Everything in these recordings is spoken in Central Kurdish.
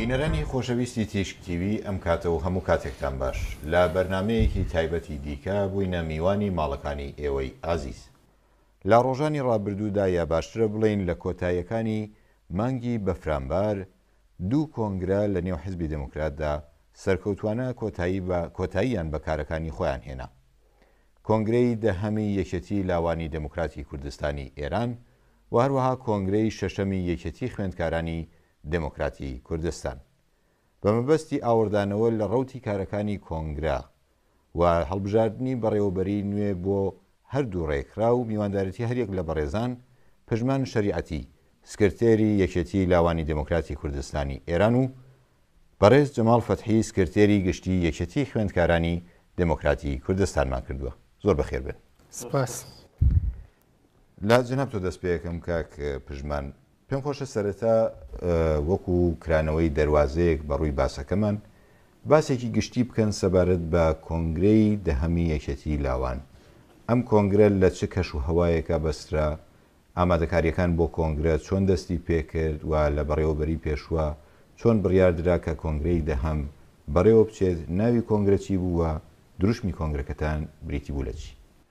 بینەرانی خۆشەویستی تیشک تیوی ئەم کاتە و هەموو کاتێکتان باش لە بەرنمەیەکی تایبەتی دیکە بووینە میوانی ماڵەکانی ئێوەی ئازیز لە ڕۆژانی ڕابردوودا یا باشترە بڵین لە کۆتایەکانی مانگی بەفرانبار دوو کۆنگرە لە نێو حیزبی دێموکراتدا سەرکەوتوانە کۆتایی بە کۆتاییان بە کارەکانی خۆیان هێنا. کۆنگرەی دەهەمی یەکێتی لاوانی دێموکراتی کوردستانی ئێران و هەروەها کۆنگرەی شەشەمی یەکێتی خوێندکارانی دێموکراتی کوردستان بە مەبەستی ئاوڕدانەوە لە ڕەوتی کارەکانی کۆنگرە و هەڵبژاردنی بەڕێوەبەریی نوێ بۆ هەردوو رێکخراو و میواندارێتی هەریەک لە بەڕێزان پژمان شەریعەتی سکرتێری یەکێتیی لاوانی دێموکراتی کوردستانی ئێران و بەڕێز جەماڵ فەتحی سکرتێری گشتیی یەکێتیی خوێندکارانی دێموکراتی کوردستانمان کردووە. زۆر بەخێربێن. سپاس. لە جەناب تۆ دەست پێکەم کاک پژمان. پێم خۆشە سەرەتا وەکو کرانەوەی دەروازەیەک بە ڕووی باسەکەمان باسێکی گشتی بکەن سەبارەت بە کۆنگرەی دەهەمی یەکێتی لاوان. ئەم کۆنگرە لە چ کەش و هەوایەکا بەسترا؟ ئامادەکاریەکان بۆ کۆنگرە چۆن دەستی پێکرد و لە بەڕێوەبەری پێشوە چۆن بڕیار درا کە کۆنگرەی دەهەم بەڕێوە بچێت؟ ناوی کۆنگرە چی بوو و دروشمی کۆنگرەکەتان بریتی بوو لە چی؟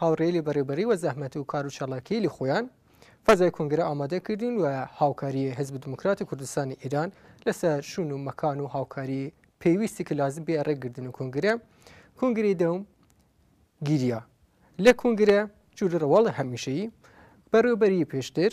هاوڕێی لە بەڕێوبەری و زەحمەت و کار و چالاکی لی خۆیان فەزای کۆنگرە ئامادە کردین و هاوکاری حزب دموکرات کوردستانی ئیران لەسەر شون و مەکان و هاوکاری پێویستی کە لازم بێ ڕێک گردن و کۆنگرە کۆنگری دەوم گیریا لە کۆنگرە جوور ڕواڵە هەمیشەیی بەڕێوبەری پێشتر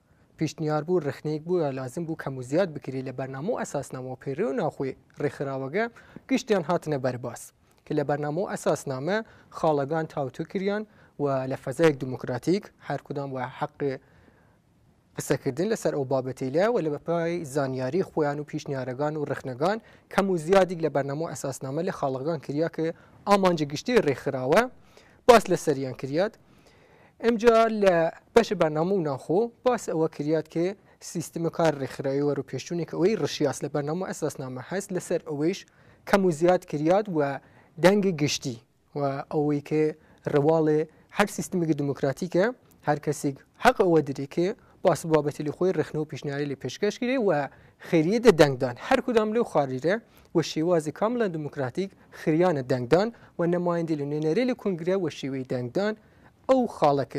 پیشنیار بوو رخنەیەک بوو یا لازم بوو کەم و زیاد بکری لە بەرنامە و ئەساسنامە و پەیڕەوی و ناوخۆی رێکخراوەگە گشتیان هاتنە بەر باس ک لە بەرنامە و ئەساسنامە خاڵەگان تاوتو کریان و لە فەزایگ دموکراتیک هەر کدام وە حەق قسەکردن لە سەر ئەو بابەتەیلە و لە پای زانیاری خوەیان و پیشنیارەگان و رخنەگان کەم و زیادیگ لە بەرنامە و ئەساسنامە لە خاڵەگان کریا ک ئامانج گشتی رێکخراوە باس لە سەریان کریاد ئمجا لە بەش بەرنامە و ناخۆ باس ئەوە کریات کە سیستم کار ڕێکخراوی وەرو پێشچوونێک ئەوەی ڕشیاس لە بەرنامە ئەساسنامە هەست لەسەر ئەوەیش کەم و زیاد کریات و دەنگ گشتی و ئەوەی کە ڕواڵێ هەر سیستمێکی دموکراتیکە هەر کەسێک حەق ئەوە درێ کە باس بابەتی لە خۆی ڕخنە و پیشنیاری لە پێشکەش کرێ و خێریە دە دەنگدان هەر کدام لەو خاریرە وە شێوازی کاملا دموکراتیک خریانە دەنگدان و نمایندی لە نوێنەری لە کونگرە وە شێوەی دەنگدان ئەو خاڵە ک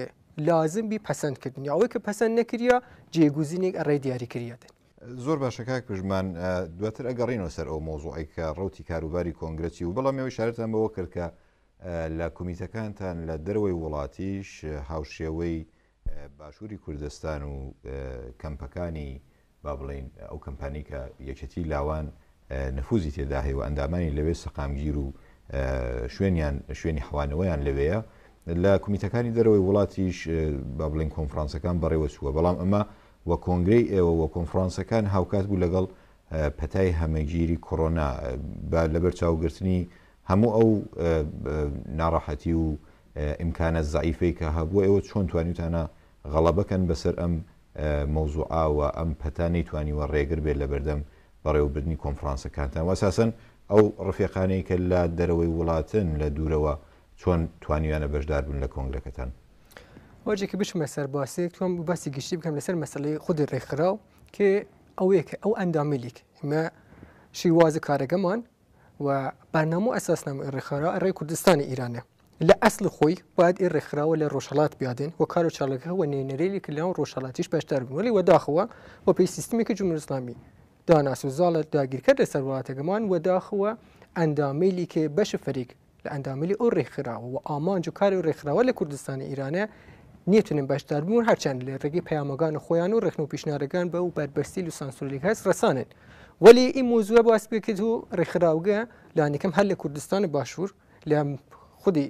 لازم بی پەسەند کردنی ئەوەی ک پەسەند نەکریا جێگوزینیگ ئەڕێ دیاری کریاتن. زۆر باشە کاک پژمان دواتر ئەگەڕینەوە سەر ئەو مەوزوعەی کە ڕەوتی کاروباری کۆنگرە چی بوو بەڵام ئێوە ئیشارەتان بەوە کرد کە لە کومیتەکانتان لە دەرەوەی وڵاتیش هاوشێوەی باشوری کوردستان و کەمپەکانی با بڵێین ئەو کەمپانیی کە یەکێتی لاوان نفوزی تێدا هەیە و ئەندامانی لەوێ سەقامگیر و شوێنیان شوێنی حوانەوەیان لەوەیە لە کومیتەکانی دەرەوەی وڵاتیش با بڵێن کۆنفرانسەکان بەڕێوە چووە بەڵام ئەمە وە کۆنگرەی ئێوە وە کۆنفرانسەکان هاوکات بوو لەگەڵ پەتای هەمەگیری کۆرۆنا لەبەر چاوگرتنی هەموو ئەو ناڕەحەتی و ئیمکانە زەعیفەی کە هەبووە ئێوە چۆن توانیوتانە غەڵەبە کەن بەسەر ئەم مەوزوعە و ئەم پەتا نەیتوانیوە ڕێگر بێت لەبەردەم بەڕێوەبردنی کۆنفڕانسەکانتان و ئەساسەن ئەو ڕفێقانەی کە لە دەرەوەی وڵاتن لە دوورەوە چۆن توانیویانە بەشدار بن لە کۆنگرەکەتان؟ ئەوجێکی بچمە سەر باسێک تۆم باسی گشتی بکەم لەسەر مەسلەی خودی ڕێکخراو کە ئەوەیە کە ئەو ئەندامیلیک ئمە شیوازە کارەکەمان و بەرنامە ئەساسنامە ئێ ڕێکخرا ئەڕێ کوردستانی ئیرانە لە ئەسل خۆی باید ئێ ڕێکخراوە لە ڕۆژهڵات بیادێن و کارو چاڵەکە وە نێنەرێلی کە لەناو ڕۆژهڵاتیش بەشدار بوون وەلی وەداخەوە و پێی سیستمێکی جمهوری ئیسلامی داناس و زاڵە داگیرکەر لەسەر وڵاتەکەمان وەداخەوە ئەندامەیلی کە بەش فەریک لە ئەندامیی ئەو ڕێکخراوە و ئامانج و کاری ئەو ڕێکخراوە لە کوردستانی ئیرانە نیەتونن بەشدار بوون هەرچەند لە ڕێگەی پەیامەگان خۆیان و ڕێخن و پیشنارەکان بە و بەربەستی و سانسۆلیک هەست ڕسانن وەلی ئیم موزوە باس بکرد و ڕێکخراوگە لانیکەم هەر لە کوردستان و باشوور لە خودی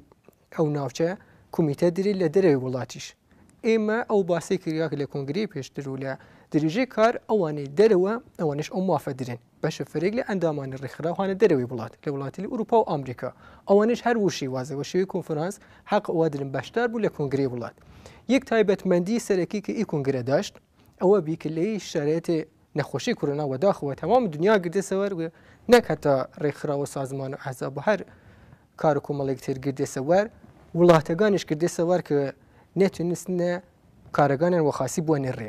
ئەو ناوچە کومیتە دری لە دەرەوەی وڵاتیش ئێمە ئەو باسی کریاک لە کنگری پێشتر و لە دریژەی کار ئەوانەی دەرەوە ئەوانش ئەو مافە درێن بەشە فرەیەک لە ئەندامانی ڕێکخراو هانە دەرەوەی وڵات لە وڵاتیلی ئوروپا و ئامریکا ئەوانش هەر وشەی وازە وەشەوی کۆنفرانس حەق ئەوادرن بەشدار بوو لە کۆنگری وڵات یەک تایبەتمەندی سەرەکی کە ئی کۆنگرە داشت ئەوە بی کە لەی شارێتێ نەخۆشی کۆرۆنا وەداخەوە تەمام دنیا گردە سەوەر و نەک هەتا ڕێکخراوە سازمان و ئەحزاب هەر کار و کۆمەڵێک تر گردە سەوەر وڵاتەکانیش کردە سەوەر کە نەتونستنە کارەکانیان وەخاسی بووە نەڕێ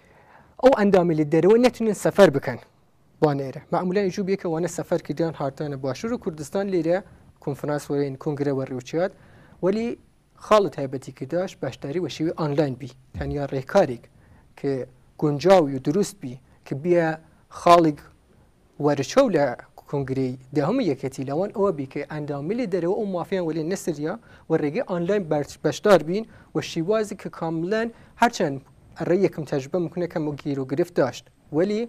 ئەو ئەندامەی لە دەرەوە نەتونن سەفەر بکەن وانە ئێرە مەعمولانی جوو بێکە وانە سەفەر کردیان هاردانە باشوور و کوردستان لێرە کنفرانس وەرین کنگرە وەڕێوچات وەلی خاڵت هایبەتی کرداش باشداری وەشێوی ئۆنلاین بی تەنیا ڕێکارێک کە گونجاوی و دروست بی کە بیە خاڵێک وەرچەو لە کونگرەی دەهەمی یەکێتی لەوان ئەوە بی کە ئەندامی لە دەرەوە ئەو مافیان وەلێ نەسریا و رێگەی ئانلاین بەشدار بین وە شیوازی کە کاملەن هەرچەند ئەرێ یەکم تەجروبە مکونە کەم و گیرو گرفت داشت وەلی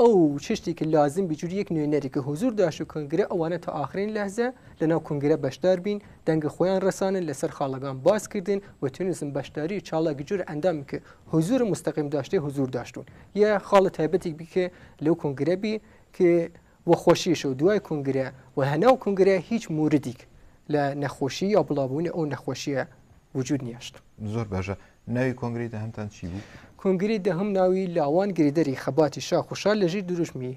ئەو چشتی کە لازم بی جوری یەک نوێنەری کە هوزور داشت و کونگرە ئەوانە تا ئاخرین لەحزە لە ناو کونگرە بەشدار بین دەنگە خویان رەسانن لە سەر خاڵەگان باس کردن و تونسن بەشداری چالاک جور ئەندامی کە هوزور مستەقیم داشتێ هوزور داشتون یە خاڵە تایبەتیک بی کە لەو کۆنگرە بی کە وە خۆشیش و دوای کۆنگرە و هەناو کۆنگرە هیچ موردیک لە نەخۆشی یا بڵاوبوونی ئەو نەخۆشیە وجود نیشت. زۆر باشە ناوی کۆنگری دەهەمتان چی بوو؟ کۆنگری دەهەم ناوی لاوان گرێدەری خەباتی شاخ و شار لە ژیر دروشمی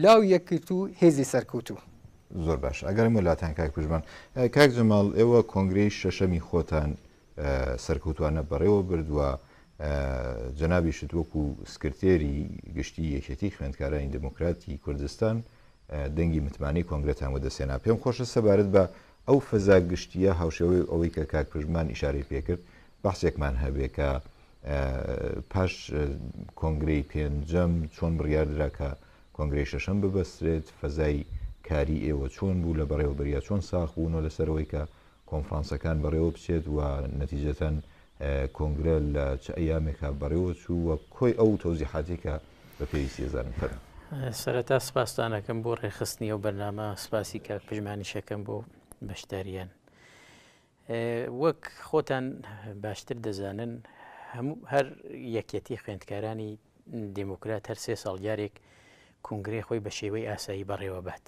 لاو یەکگرتوو هێزی سەرکەوتوو. زۆر باشە ئەگەڕێمەوە لاتان کاک پژمان. کاک جەماڵ ئێوە کۆنگرەی شەشەمی خۆتان سەرکەوتوانە بەڕێوە برد و جەنابیشت وەکو سکرتێری گشتی یەکێتی خوێندکارانی دموکراتی کوردستان دەنگی متمانەی کۆنگرەتان وەدەسێنا پێم خۆشە سەبارەت بە ئەو فەزا گشتیە هاوشێوەی ئەوەی کە کاک پژمان ئیشارەی پێکرد بەحسێکمان هەبێ کە پاش کۆنگرەی پێنجەم چۆن بڕیاردرا کە کۆنگرەی شەشەم ببەسترێت فەزای کاری ئێوە چۆن بوو لە بەڕێوەبەریا چۆن ساخ بوونەوە لەسەرەوەی کە کۆنفرانسەکان بەڕێوە بچێت و نەتیجەتەن کۆنگرە لە چ ئەیامێکا بەڕێوە چوو و کۆی ئەو تەوزیحاتی کە بە پێویستی ئێزانم فەرمو. سەرەتا سپاستان ئەکەم بۆ ڕێکخستنی ئەو بەرنامە سپاسی کاک پژمانیش ئەکەم بۆ بەشداریان وەک خۆتان باشتر دەزانن هەموو هەر یەکەتی خوێندکارانی دیموکرات هەر سێ ساڵ جارێک کونگرەی خۆی بە شێوەی ئاسایی بەڕێوەبات.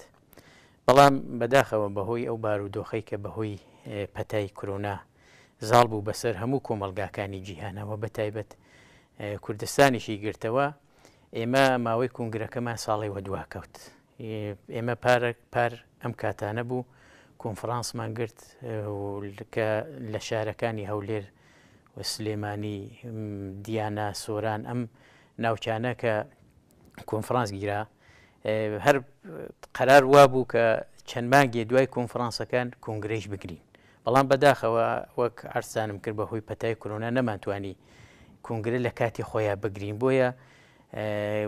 بەڵام بەداخەوە بەهۆی ئەو بارودۆخەی کە بەهۆی پەتای کرۆنا زاڵ بوو بەسەر هەموو کۆمەڵگاکانی جیهانەوە بەتایبەت کوردستانیشی گرتەوە ئێمە ماوەی کونگرەکەمان ساڵی وەدواکەوت ئێمە پارە پار ئەم کاتانە بوو کۆنفرانسمان گرت کە لە شارەکانی هەولێر سلێمانی، دیانا، سۆران ئەم ناوچانە کە کۆنفرانس گیرا هەر قەرار وابوو کە چەند مانگێ دوای کۆنفرانسەکان کۆنگرەیش بگرین بەڵام بەداخەوە وەک ئارسانم کرد بەهۆی پەتای کرۆنا نەمانتوانی کۆنگرە لە کاتی خۆیان بگرین بۆیە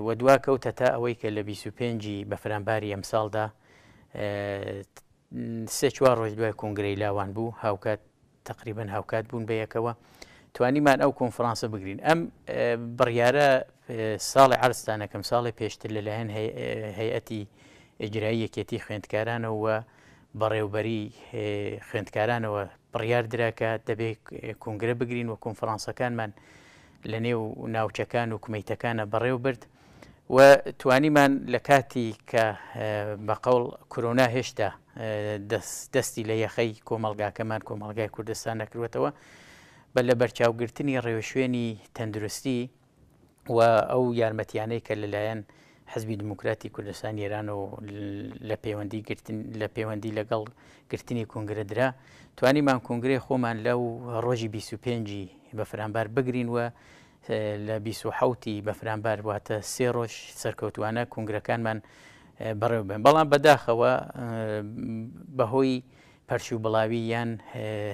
وە دوا کەوتە تا ئەوەی کە لە 25 بەفرانباری ئەمساڵدا سێ چوار ڕۆژ دوای کۆنگرەی لاوان بوو هاوکات تەقریبەن هاوکات بوون بە یەکەوە توانیمان ئەو کۆنفرانسە بگرین ئەم بڕیارە ساڵی عرستانەکەم ساڵی پێشتر لەلایەن هەیەتی ئجرایی یەکێتی خوێندکارانەوە بەڕێوبەری خوێندکارانەوە بڕیار دراکە دەبێت کنگرە بگرین و کۆنفرانسەکانمان لە نێو ناوچەکان و کومیتەکانە بەڕێو برد و توانیمان لە کاتی کە بە قەوڵ کرۆنا هێشتا دەستی لە یەخەی کۆمەلگاکەمان کۆمەلگای کوردستان نەکروێتەوە بە لە بەرچاوگرتنی ڕێوشوێنی تەندروستی و ئەو یارمەتیانەی کە لەلایەن حزبی دموکراتی کوردستان ئێران و لە پەیوەندی گرتن لە پەیوەندی لەگەڵ گرتنی کنگرە درا توانیمان کنگرێ خۆمان لەو ڕۆژی 25 بەفرانبار بگرین و لە بیست و حەوت ی بەفرانبار واتە سێ ڕۆژ سەرکەوتووانە کونگرەکانمان بەڕێوەبەن، بەڵام بەداخەوە بەهۆی پەرشوبڵاوی یان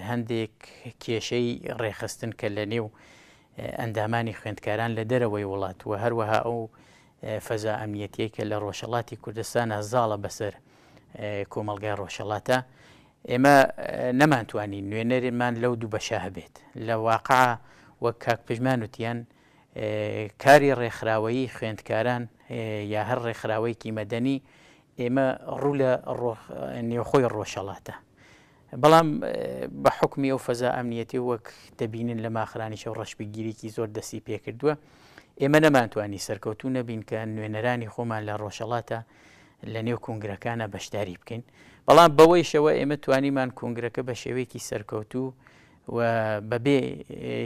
هەندێک کێشەی ڕێکخستن کە لە نێو ئەندامانی خوێندکاران لە دەرەوەی وڵات و هەروەها ئەو فەزا ئەمنیەتیەی کە لە ڕۆژهەڵاتی کوردستانە زاڵە بەسەر کۆمەڵگای ڕۆژهەڵاتە ئێمە نەمانتوانی نوێنەرێمان لەو دوو بەشە هەبێت، لە واقع وەک کاک پژمان وتیان کاری ڕێکخراوەیی خوێندکاران یا هەر ڕێکخراوەیەکی مەدەنی ئێمە ڕوو لە نێوخۆی ڕۆژهەڵاتە بەڵام بە حکمی ئەو فەزا ئەمنیەتی وەک دەبینن لە ماخرانیشە و ڕەشبگیرێکی زۆر دەستی پێکردووە ئێمە نەمانتوانی سەرکەوتو نەبین کە نوێنەرانی خۆمان لە ڕۆژەڵاتە لە نێو کونگرەکانە بەشداری بکەین بەڵام بەوەیشەوە ئێمە توانیمان کونگرەکە بە شێوەیەکی سەرکەوتوو و بەبێ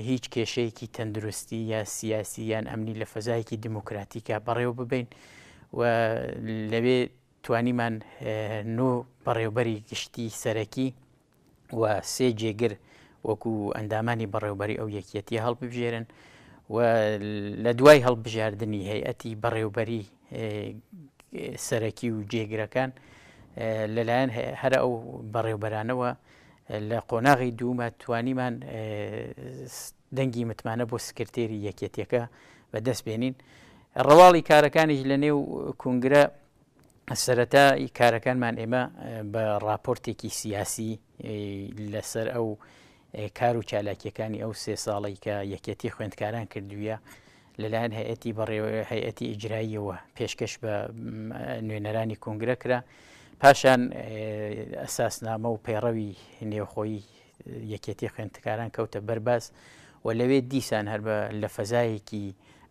هیچ کێشەیەکی تەندروستی یا سیاسی یان ئەمنی لە فەزایەکی دیموکراتیکە بەڕێوە ببین و لەوێ توانیمان نۆ بەڕێوبەری گشتی سەرەکی و سێ جێگر وەکو ئەندامانی بەڕێوبەری ئەو یەکیەتیە هەڵببژێرن و لە دوای هەڵبژاردننی هەیەتی بەڕێوبەری سەرەکی و جێگرەکان لەلایەن هەرە ئەو بەڕێوبەرانەوە لە قۆناغی دوومە توانیمان دەنگی متمانە بۆ سکرتێری یەکێتیەکە بەدەست بێنین ڕواڵی کارەکانیش لە نێو کنگرە سەرەتای کارەکانمان ئێمە بە ڕاپۆرتێکی سیاسی لەسەر ئەو کار و چالاکیەکانی ئەو سێ ساڵی کە یەکەتی خوێندکاران کردوویە لەلایەن هەیەتی بەڕێوە هەیەتی ئیجراییەوە پێشکەش بە نوێنەرانی کنگرە کرا پاشان ئەساسنامە و پەیڕەوی نێوخۆی یەکێتی خوێندکاران کەوتە بەر باس و لەوێ دیسان هەر بە لە فەزایەکی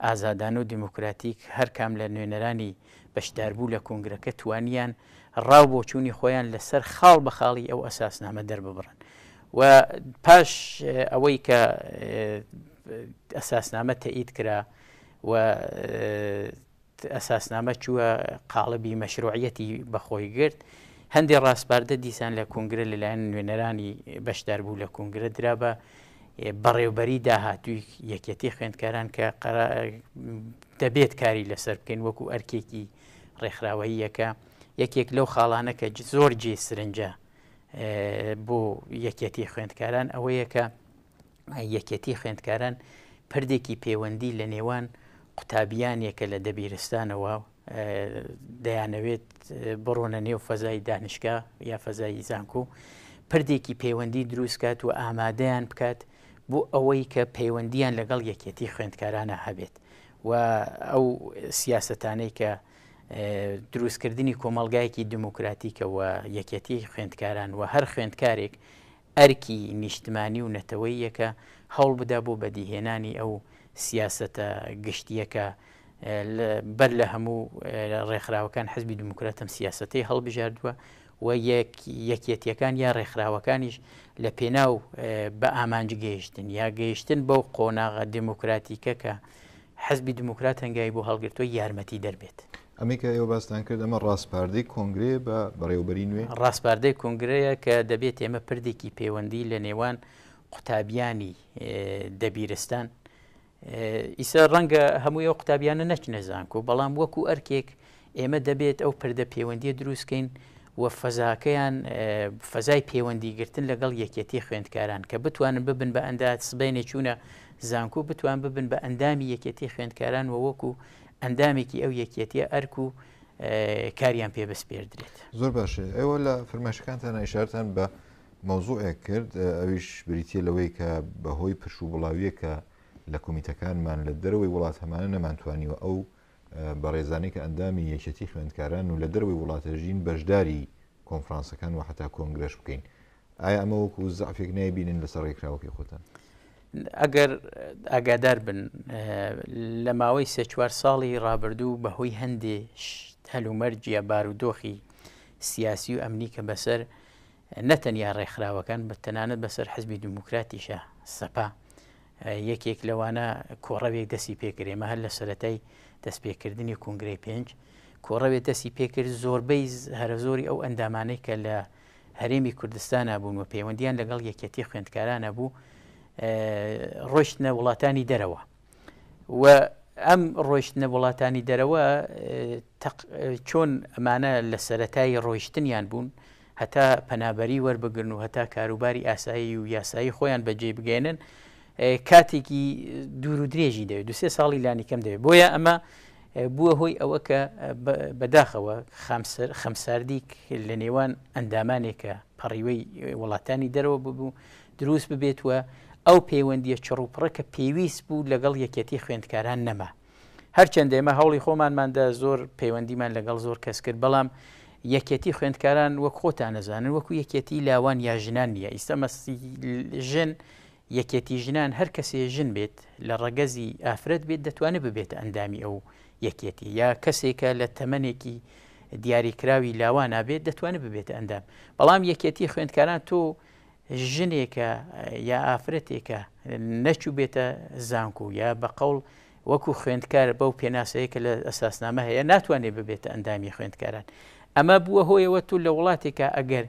ئازادانە و دیموکراتیک هەر کام لە نوێنەرانی بەشداربوو لە کونگرەکە توانیان ڕا و بۆچوونی خۆیان لە سەر خاڵ بە خاڵی ئەو ئەساسنامە دەرببڕن و پاش ئەوەی کە ئەساسنامە تەئید کرا و ئەساسنامە چووە قاڵبی مەشروعیەتی بە خۆی گرت، هەندێ ڕاسپاردە دیسان لە کونگرە لەلایەن نوێنەرانی بەشداربوو لە کونگرە درا بە بەڕێوبەری داهاتووی یەکێتی خوێندکاران کە دەبێت کاری لەسەر بکەین وەکو ئەرکێکی ڕێکخراوەییەکە یەکێک لەو خاڵانە کە زۆر جێ سرنجە بۆ یەکێتی خوێندکاران ئەوەیە کە یەکێتی خوێندکاران پردێکی پێوەندی لە نێوان قوتابیانێکە لە دەبیرستانەوە دەیانەوێت بڕۆنە نێو فەزای دانیشکە یا فەزای زانکو پردێکی پەیوەندی دروستکات و ئامادەیان بکات بۆ ئەوەی کە پەیوەندیان لەگەڵ یەکێتی خوێندکارانە هەبێت و ئەو سیاستانەی کە دروستکردنی کۆمەلگایەکی دموکراتیکەوە یەکێتی خوێندکاران و هەر خوێندکارێک ئەرکی نیشتمانی و نەتەوەییە کە هەوڵبدا بۆ بەدیهێنانی ئەو سیاسەتە گشتییە کە بەر لە هەموو ڕێکخراوەکان حزبی دیموکرات ئەم سیاسەتەی هەڵبژاردووە و یەکیەتیەکان یا ڕێکخراوەکانیش لە پێناو بە ئامانج گەیشتن یا گەیشتن بەو قۆناغە دیموکراتیکە کە حزبی دیموکرات هەنگای بۆ هەڵگرتووە یارمەتی دەربێت. ئەمەی کە ئێوە باستان کرد ئەمە ڕاسپاردەی کۆنگرەیە بە بەڕێوەبەری نوێ؟ ڕاسپاردەی کۆنگرەیە کە دەبێت ئێمە پردێکی پەیوەندی لە نێوان قوتابیانی دەبیرستان ئیسا ڕەنگە هەمووی ئەو قوتابیانە نەچنە زانکۆ بەڵام وەکو ئەرکێک ئێمە دەبێت ئەو پردە پەیوەندی دروستکەین و فەزاکەیان فەزای پەیوەندی گرتن لەگەڵ یەکەتی خوێندکاران کە بتوانن ببن بە ئەندات سبێنێ چوونە زانکو بتوان ببن بە ئەندامی یەکەتی خوێندکاران و وەکو ئەندامێکی ئەو یەکیەتیە ئەرک و کاریان پێ بسپێردرێت زۆر باشێ ئێوە لە فرماشەکانتان ئیشارتان بە مەوزوعێک کرد ئەویش بریتە لەوەی کە بەهۆی پرش و بڵاویەکە لە کمیتەکانمان لە دەرەوەی وڵات هەمانە نەمانتوانیوە ئەو بەڕێزانێک ئەندامی یەکەتی خوێندکاران و لە دەروی وڵاتەژین بەشداری کۆنفرانسەکان و حتا کۆنگرەش بکەین ئایا ئەمە وەکو زەعفێک نایبینن لەسەر ڕێکخراوەکەی خۆتان؟ ئەگەر ئاگادار بن لە ماوەی سێ چوار ساڵی ڕابردوو بەهۆی هەندێ هەلومەرجە بارودۆخی سیاسی و ئەمنی کە بەسەر نەتەنیا ڕێکخراوەکان بە تەنانەت بەسەر حزبی دموکراتیشە سەپا یەکێک لەوانە کۆڕەوێک دەسی پێکرێمە هەر لە سەتای دەستپێکردنی کنگرەی پێنج کۆڕەوێت دەسی پێکرد زۆربەی هەرە زۆری ئەو ئەندامانەی کە لە هەرێمی کوردستانا بوون و پەیوەندیان لەگەڵ یەکێتی خوێندکارانە بوو ڕۆشتنە وڵاتانی دەرەوە و ئەم ڕۆشتنە وڵاتانی دەرەوە چۆن ئەمانە لە سەتایی ڕۆیشتنیان بوون هەتا پەنابەری وەربگرن و هەتا کاروباری ئاسایی و یاسایی خۆیان بەجێ بگەێنن کاتێکی دوور و درێژی دەوێت دو سێ ساڵی لانیکەم دەوێت بۆیە ئەمە بووە هۆی ئەوە کە بەداخەوە خامسەر خەمساردیک لە نێوان ئەندامانێکە پەڕیوەی وڵاتانی دەرەوە ببوو دروست ببێت وە ئەو پەیوەندیە چڕوپڕە کە پێویست بوو لەگەڵ یەکەتی خوێندکاران نەما هەرچەندە ئێمە هەوڵی خۆمانماندا زۆر پەیوەندیمان لەگەڵ زۆر کەس کرد بەڵام یەکەتی خوێندکاران وەک خۆتان نەزانن وەکو یەکەتی لاوان یا ژنان نییە ئیستا مەسی ژن یەکێتی ژنان هەر کەسێ ژن بێت لە ڕەگەزی ئافرەت بێت دەتوانێت ببێتە ئەندامی ئەو یەکێتی یا کەسێکە لە تەمەنێکی دیاری کراوی لاوانا بێت دەتوانێت ببێتە ئەندام بەڵام یەکێتی خوێندکاران تۆ ژنێکە یا ئافرەتێکە نەچوو بێتە زانکو یا بە قەڵ وەکو خوێندکار بەو پێناسەیە کە لە ئەساسنامە هەیە ناتوانێت ببێتە ئەندامی خوێندکاران ئەمە بووە هۆیەوە تو لە وڵاتێکە ئەگەر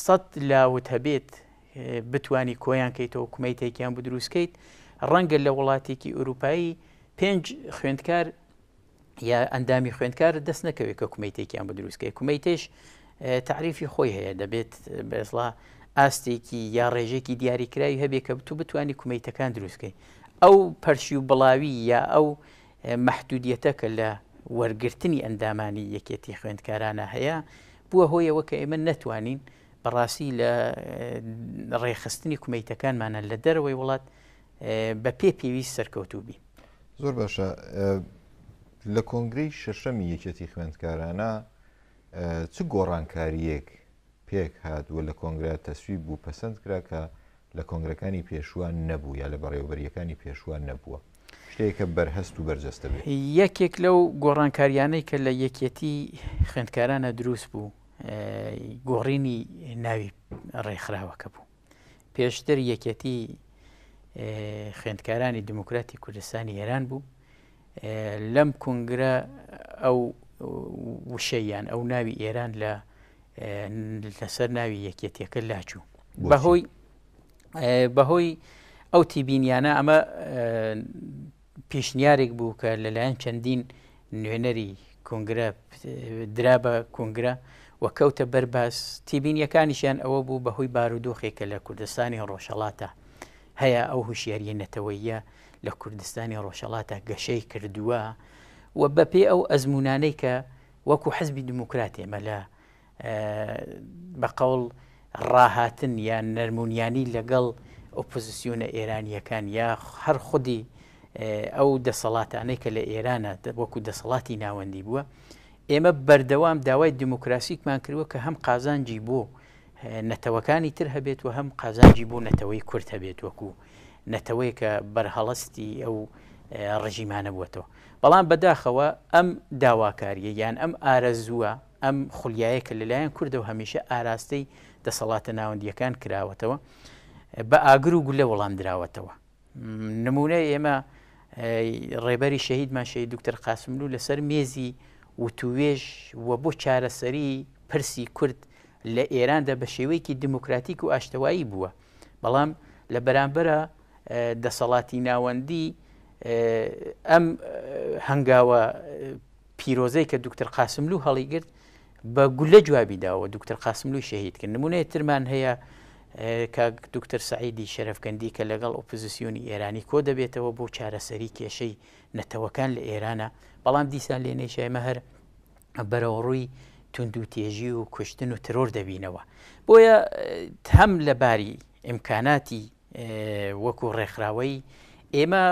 سەد لاوت هەبێت بتوانی کۆیان کەیتەوە کومیتەیکیان بۆ دروست کەیت ڕەنگە لە وڵاتێکی ئوروپایی پێنج خوێندکار یا ئەندامی خوێندکار دەست نەکەوێت کە کومیتێکیان بە دروستکە کومیتێش تعریفی خۆی هەیە دەبێت بێزڵا ئاستێکی یا ڕێژێکی دیاریکراوی هەبێ کە بتو بتانی کومیتەکان دروستکەی ئەو پەرشی و بڵاوی یا ئەو محدودیەتە کە لە وەرگرتنی ئەندامانی یەکێتی خوێندکارانە هەیە بووە هۆیەوە کە ئێمە نەتوانین بەڕاستی لە ڕێکخستنی کومیتەکانمانە لە دەرەوەی وڵات بە پێ پێویست سەرکەوتوو بین. زۆر باشە لە کۆنگری شەشەمی یەکێتی خوێندکارانە چ گۆڕانکاریەک پێک هات و لە کۆنگرا تەسویب بوو پەسەند کرا کە لە کۆنگرەکانی پێشووە نەبوو یا لە بەڕێوەبەرییەکانی پێشووە نەبووە، شتێکە بەرهەست و بەرجەستە بێت. یەکێک لەو گۆڕانکارییانەی کە لە یەکیەتیی خوێندکارانە دروست بوو، گۆڕینی ناوی ڕێکخراوەکە بوو. پێشتر یەکیەتیی خوێندکارانی دیموکراتی کوردستانی ئێران بوو، لەم کونگرە ئەو وشەیان ئەو ناوی ئێران لە لەسەر ناوی یەکێتیەکە لاچوو بەهۆی بەهۆی ئەو تیبینیانە ئەمە پیشنیارێک بوو کە لەلایەن چەندین نوێنەری کنگرە درا بە کنگرە و کەوتە بەرباس تیبینیەکانیشیان ئەوە بوو بەهۆی بارودۆخێکە لە کوردستانی ڕۆژەڵاتە هەیە ئەو هوشیاریە نەتەوەیە لە کوردستانی ڕۆژەڵاتە گەشەی کردووە و بەپێ ئەو ئەزمونانەی کە وەکو حزبی دیموکرات ئێمە لە بە قەوڵ ڕاهاتن یا نەرمونیانی لەگەڵ ئۆپۆزسیۆنە ئێرانییەکان یا هەر خودی ئەو دەسەڵاتانەی کە لە ئێرانە وەکو دەسەڵاتی ناوەندی بووە ئێمە بەردەوام داوای دیموکراسیکمان کردوە کە هەم قازانجی بۆ نەتەوەکانی تر هەبێت و هەم قازانجی بۆ نەتەوەی کورت هەبێت وەکو نەتەوەیەکە بەرهەڵستی ئەو ڕژیمانە بووەتەوە بەڵام بەداخەوە ئەم داواکارییە یان ئەم ئارەزووە، ئەم خولیایە کە لەلایەن کوردەوە هەمیشە ئاراستەی دەسەڵاتە ناوەندییەکان کراوەتەوە، بە ئاگر و گولە وەڵامدراوەتەوە. نموونەی ئێمە ڕێبەری شەهیدمان شەهید دوکتەر قاسملوو لەسەر مێزی وتووێژ و بۆ چارەسەری پرسی کورد لە ئێراندا بە شێوەیەکی دیموکراتیک و ئاشتەوایی بووە، بەڵام لە بەرامبەرا دەسەڵاتی ناوەندی ئەم هەنگاوە پیرۆزەی کە دوکتر قاسملوو هەڵیگرت بە گولە جوابی داوە دوکتر قاسملووی شەهید کرد نمونەیە ترمان هەیە کاک دوکتر سعیدی شەرفکەندی کە لەگەڵ ئۆپزیسیۆنی ئێرانی کۆ دەبێتەوە بۆ چارەسەری کێشەی نەتەوەکان لە ئێرانە بەڵام دیسان لێ نەیشایمە هەر بەرەوڕووی تونند و تێژی و کوشتن و ترۆر دەبینەوە بۆیە هەم لەباری ئیمکاناتی وەکو ڕێکخراوەی ئێمە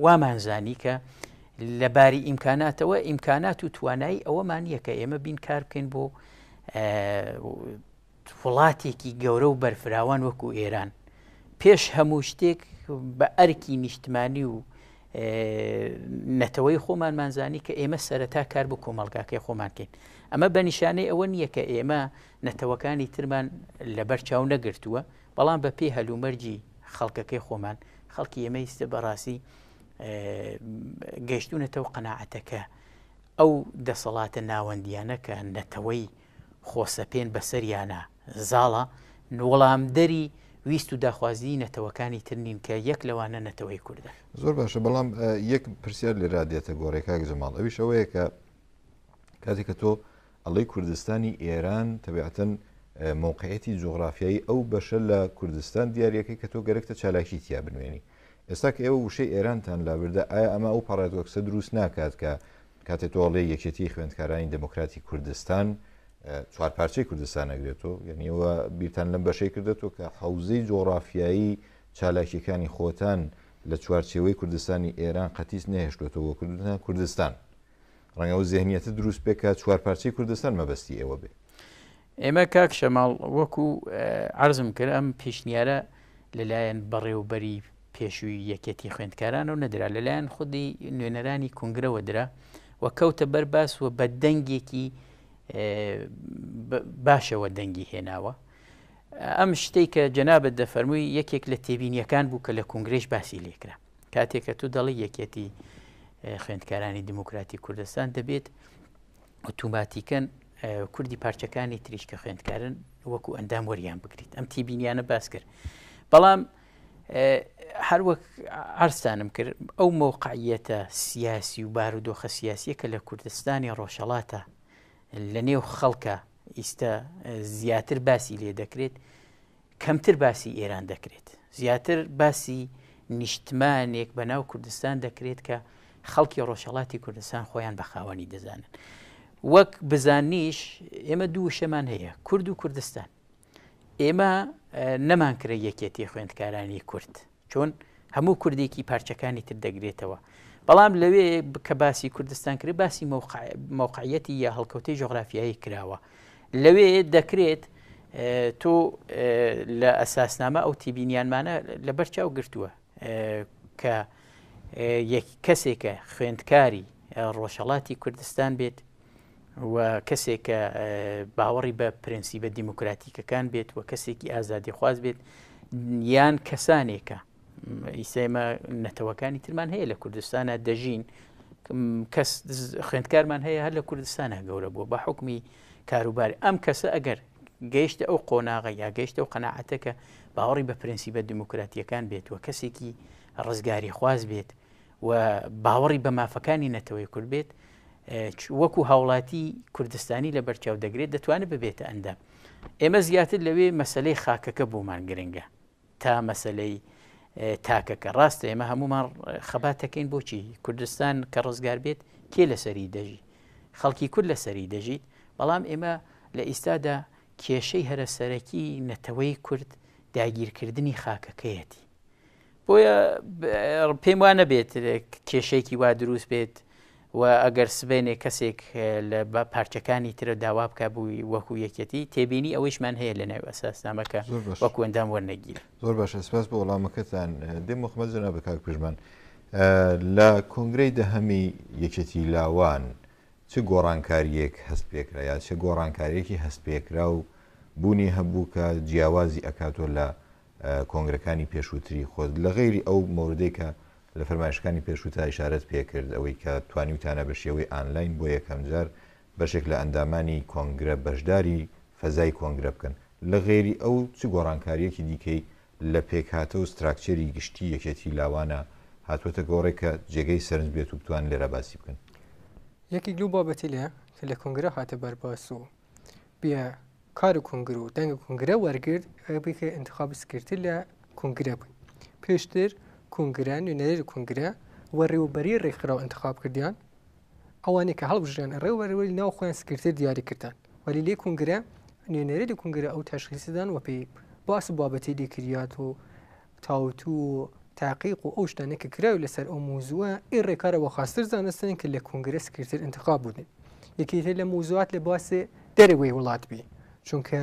وامان زانی کە لە باری ئیمکاناتەوە ئیمکانات و توانایی ئەوەمان یە کە ئێمە بین کار بکەین بۆ وڵاتێکی گەورە و بەرفراوان وەکو ئێران پێش هەموو شتێک بە ئەرکی نیشتمانی و نەتەوەی خۆمانمانزانی کە ئێمە سەرەتا کار بۆ کۆمەلگاکەی خۆمانکەین ئەمە بە نیشانەی ئەوە نییە کە ئێمە نەتەوەکانی ترمان لەبەر چاو نەگرتووە بەڵام بە پێی هەلومەرجی خەڵکەکەی خۆمان خەڵکی ئێمە ئیستە بەڕاستی گەشتونەتە و قەنەعەتەکە ئەو دەسەڵاتە ناوەندیانە کە نەتەوەی خۆسەپێن بەسەریانە زاڵە نوڵامدەری ویست و داخوازی نەتەوەکانی ترنین کە یەک لەوانە نەتەوەی کوردە زۆر باشە بەڵام یەک پرسیار لێرا دێتە گۆڕێکاک جەماڵ ئەویش ئەوەیە کە کاتێککە تۆ ئەڵێی کوردستانی ئێران تەبعەتەن مەوقعیەتی جوغرافیایی ئەو بەشە لە کوردستان دیارەکەی کە تۆ گەرەکتە چالاکی تیا بنوێنی ئێستا کە ئێوە وشەی ئێرانتان لابردە ئایا ئەمە ئەو پارادۆکسە دروست ناکات کە کاتێ تۆڵێ یەکێتی خوێندکارانی دموکراتی کوردستان چوار پارچەی کوردستان نەگرێتەوە یعنیەوە بیرتان لەم بەشەی کردێتەوە کە حوزەی جۆڕافیایی چالاکیەکانی خۆتان لە چوارچێوەی کوردستانی ئێران قەتیس نەهێشتێتەوە کردتان کوردستان ڕەنگە ئەو زهنیەتە دروست بێ کە چوارپارچەی کوردستان مەبەستی ئێوە بێ ئێمە کاک شەماڵ وەکو عرضم کرد ئەم پیشنیارە لەلایەن بەڕێوبەری پێشووی یەکەتی خوێندکاران و نەدرا لەلایەن خودی نوێنەرانی کنگرەوە درا و کەوتە بەر باس و بە دەنگێکی باشەوە دەنگی هێناوە ئەم شتێک کە جەنابەت دەفەرمووی یەکێک لە تێبینیەکان بوو کە لە کنگرێش باسی لێکرا کاتێ کە تو دەڵی یەکێتی خوێندکارانی دیموکراتی کوردستان دەبێت ئۆتوماتیکەن کوردی پارچەکانی تریش کە خوێندکارن وەکو ئەندام وەریان بگریت ئەم تیبینیانە باس کرد بەڵام هەروەک ئارستانم کرد ئەو مەوقعیەتە سیاسی و بارودۆخە سیاسیە کە لە کوردستانی ڕۆژەڵاتە لە نێو خەڵکە ئیستا زیاتر باسی لێ دەکرێت کەمتر باسی ئێران دەکرێت، زیاتر باسی نیشتمانێک بە ناو کوردستان دەکرێت کە خەڵکی ڕۆژهەڵاتی کوردستان خۆیان بە خاوەنی دەزانن. وەک بزاننیش ئێمە دوو وشەمان هەیە کورد و کوردستان. ئێمە نەمان کرێ یەکێتی خوێندکارانی کورد. چۆن هەموو کوردێکی پارچەکانی تر دەگرێتەوە بەڵام لەوێ کە باسی کوردستان کرد باسی مەوقعەتی یا هەڵکەوتەی جۆغرافیایی کراوە لەوێ دەکرێت تۆ لە ئەساسنامە ئەو تیبینیانمانە لە بەرچاو گرتووە کە یەک کەسێکە خوێندکاری ڕۆژهڵاتی کوردستان بێت و کەسێک کە باوەڕی بە پرەنسیبە دیموکراتیکەکان بێت و کەسێکی ئازادیخواز بێت یان کەسانێکە ئیسێمە نەتەوەکانی ترمان هەیە لە کوردستانە دەژین کەس خوێندکارمان هەیە هەر لە کوردستانە گەورە بووە بە حکمی کاروبار ئەم کەسە ئەگەر گەیشتە ئەو قۆناغە یا گەیشتە و قەنەعەتەکە باوەڕی بە پرەنسیبە دیموکراتیەکان بێت و کەسێکی ڕزگاری خواز بێت و باوەڕی بە مافەکانی نەتەوەی کورد بێت وەکو هاوڵاتی کوردستانی لە بەرچاو دەگرێت دەتوانێت ببێتە ئەندام ئێمە زیاتر لەوێ مەسلەی خاکەکە بۆمان گرنگە تا مەسلەی تاکەکە ڕاستە ئێمە هەمومان خەباتەکەین بۆچی کوردستان کە ڕزگار بێت کێ لەسەری دەژی خەڵکی کورد لەسەری دەژیت بەڵام ئێمە لە ئیستادا کێشەی هەرە سەرەکی نەتەوەی کورد داگیرکردنی خاکەکەیەتی بۆیە پێم وا نەبێت کێشەیەکی وا دروست بێت و ئەگەر سبێنێ کەسێک لە بە پارچەکانی ترە داوا بکە بووی وەکو یەکەتی تێبینی ئەوەیشمان هەیە لە ناو ئەساسنامەکە وەکو ئەندام وەرنەگیر زۆر باشە سپاس بۆ وەڵامەکەتان دێم مخمە جنا بە کاک پژمان لە کۆنگرەی دەهەمی یەکێتی لاوان چ گۆڕانکاریەک هەست پێکرا یا چ گۆڕانکاریەکی هەست پێکرا و بوونی هەبوو کە جیاوازی ئەکاتۆ لە کۆنگرەکانی پێشووتری خۆت لە غەیری ئەو مۆردەی کە لە فەرمایشتەکانی پێشووتا ئیشارەت پێکرد ئەوەی کە توانیوتانە بە شێوەی ئانلاین بۆ یەکەمجار بەشێک لە ئەندامانی کۆنگرە بەشداری فەزای کۆنگرە بکەن لە غەیری ئەو چ گۆڕانکارییەکی دیکەی لە پێکهاتە و ستراکچەری گشتی یەکێتی لاوانە هاتووەتە گۆڕێ کە جێگەی سەرنج بێت و بتوان لێرە باسی بکەن؟ یەکێک لەو بابەتەی لە کە لە کۆنگرە هاتە بەرباس و بیا کار و کنگرە و دەنگە کنگرە وەرگرت بکە انتخاب سکرتر لە کنگرە بووین پێشتر کنگرە نوێنەری لە کنگرە وەڕێوبەری ڕێکخراو انتخاب کردیان ئەوانێک کە هەڵبژیان ڕێوەرەوەی ناو خۆیان سکرتر دیاری کردن وەلی لێ کنگرە نوێنەری لە کنگرە ئەو تەشخیسدان وەپی باس و بابەتی لێکریات و تاوتو و تاقیق و ئەو شتانەی کە کراوی لەسەر ئەو موزوە ئی ڕێکارە وە خاستر زانستن کە لە کۆنگرە سکرتر انتخاب بودن یەکێتە لە موزوات لە باسێ دەرەوەی وڵات بی چونکە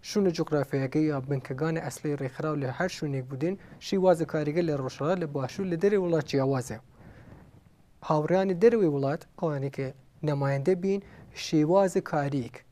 شونە جوغرافیایەگە یا بنکەگانە ئەسڵی ڕێکخراو لە هەر شونێک بودن شیوازە کاریگە لە ڕۆژهەڵات لە باشوور لە دەرەوەی وڵات جیاوازە هاوڕێیانی دەرەوەی وڵات ئەوانێ کە نەمایندە بین شێوازە کاریک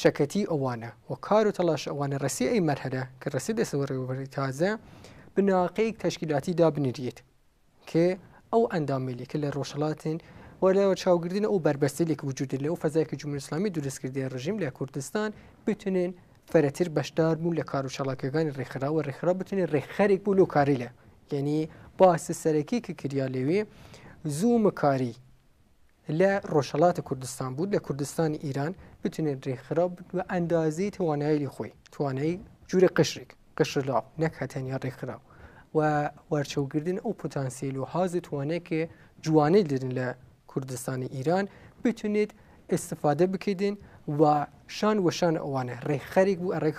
شەکەتی ئەوانە و کار و تەڵاش ئەوانە رەسێ ئەی مەرهەلە کە رەسێ دەسە وەڕێوەبەری تازە بناقەیەک تەشکیلاتی دابنریت کە ئەو ئەندامەیلی کە لە رۆژهەڵاتن و لە چاوگردن ئەو بەربەستەیلی کە وجودە لەو فەزای کە جمهوری ئیسلامی دروست کردیە رژیم لە کوردستان بتونێن فرەتر بەشدار بوون لە کار و چالاکیەکانی رێکخراو و رێکخراو بتونێ رێکخەرێک بوو لەو کارەیلە یەنی باسە سەرەکی کە کریا لەوێ زوومکاری لە ڕۆژهەڵاتی کوردستان بوو لە کوردستانی ئیران بتونێت ڕێکخراو بە ئەندازی توانایی خۆی توانایی جوورە قشرێک قشرلاو نەک هەتەنیا ڕێکخراو و وەرچەوگردن ئەو پۆتانسیل و حاز و توانێکێ جوانەی لرن لە کوردستانی ئیران بتونێت استفادە بکردن و شان وەشان ئەوانە ڕێکخەرێک بوو ڕێک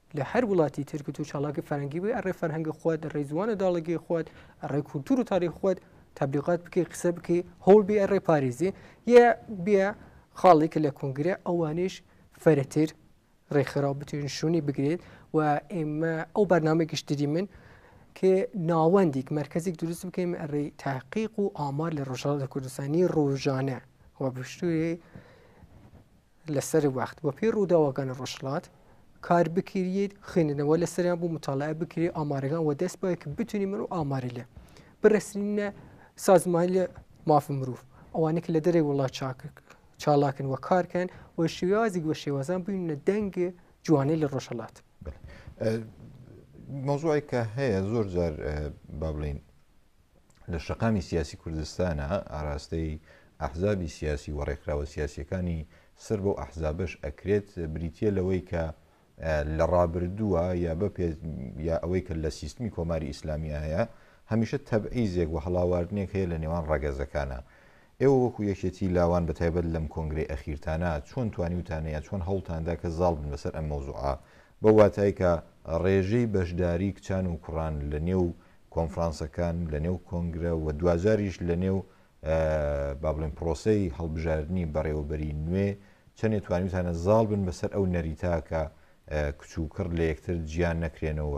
لە هەر وڵاتی ترکت و چاڵاکی فەرەنگی بێ ئەڕێ فەرهەنگی خۆت ئەڕێ زوانە داڵگی خۆت ئەڕێ کولتور و تاریخ خۆت تبلیغات بکەی قسە بکەی هەوڵ بێ ئەڕێ پارێزی یە بێ خاڵێک لە کۆنگرە ئەوانش فەرەتر ڕێکخراو بتوێن شوونی بگرێت و ئێمە ئەو بەرنمە گشتری من کە ناوەندێک مرکزێک دروست بکەین ئەڕێ تاقیق و ئامار لە ڕژاڵ لە کوردستانی ڕۆژانە و بشتوی لە سەر وەخت وە پێی ڕووداوەکانی ڕۆژهەڵات کار بکریت خوێندنەوە لە سەریان بوو مطالعە بکری ئامارەکان وە دەست بە کە بتونی من و ئاماری لێ برسنینە سازمان لە مافی مرۆڤ ئەوانێک لە دەرێ وڵات چاکک چاڵاکن وە کارکەن وە شێوازی وە شێوازان بووینە دەنگ جوانەی لە ڕۆژهڵات مۆزوعی کە هەیە زۆر جار با بڵین لە شەقامی سیاسی کوردستانا ئاراستەی ئەحزابی سیاسی و ڕێکخراوە سیاسیەکانی سەر بەو ئەحزابەش ئەکرێت بریتە لەوەی کە لە ڕابردووە یا بە پێ یا ئەوەی کە لە سیستمی کۆماری ئیسلامی هەیە هەمیشە تەبعیزێک و هەڵاواردنێک هەیە لە نێوان ڕەگەزەکانە ئێوە وەکو یەکێتی لاوان بە تایبەت لەم کۆنگرەی ئەخیرتانا چۆن توانیوتان یا چۆن هەوڵتان دا کە زاڵ بن بەسەر ئەم مەوزوعە بەو واتای کە ڕێژەی بەشداری کچان و کوڕان لە نێو کۆنفرانسەکان لە نێو کۆنگرە و دواجاریش لە نێو با بڵێین پڕۆسەی هەڵبژاردنی بەڕێوەبەری نوێ چەنێ توانیوتانە زاڵ بن بەسەر ئەو نەریتە کە کچ و کڕ لە یەکتر جیا نەکرێنەوە و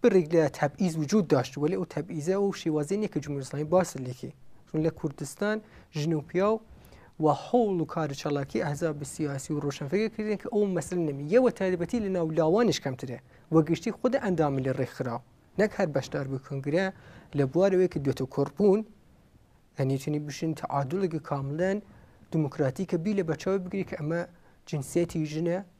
بڕێک لە تەبعیز وجود داشت وەلی ئەو تەبعیزە و شێوازی نیە کە جمهوری ئیسلامی باست لێکێ چون لە کوردستان ژن و پیا و و حوڵ و کار چالاکی ئەحزاب سیاسی و ڕۆشنفەگە کردن کە ئەو مەسل نەمی یەوە تایبەتی لە ناو لاوانش کەمترە و گشتی خود ئەندامی لە ڕێکخراو نەک هەر بەشدار بووی کنگرە لە بوارەوەی کە دوێتە کوڕبوون ئەنیتونی بشن تعادلێکی کاملەن دیموکراتی کە بی لە بەچاوی بگری کە ئەمە جنسیەتی ژنە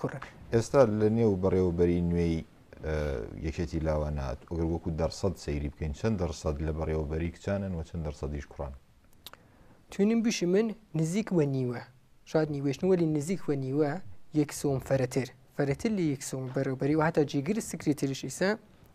کوڕەکە. ئێستا لە نێو بەڕێوەبەریی نوێی یەکێتی لاوان هات و گەر وەکو دەڕسەد سەیری بکەین چەند دەڕسەد لە بەڕێوەبەریی کچانن و چەند دەڕسەدیش کوڕان؟ توێنیم بشی من نزیک بە نیوە، شاد نیوەیش نی وەلی نزیک بە نیوە یەک سووم فەرەتر، فەرەتر لە یەک سووم بەرەوبەری و هەتا جێگری سکرتێریش ئیسە،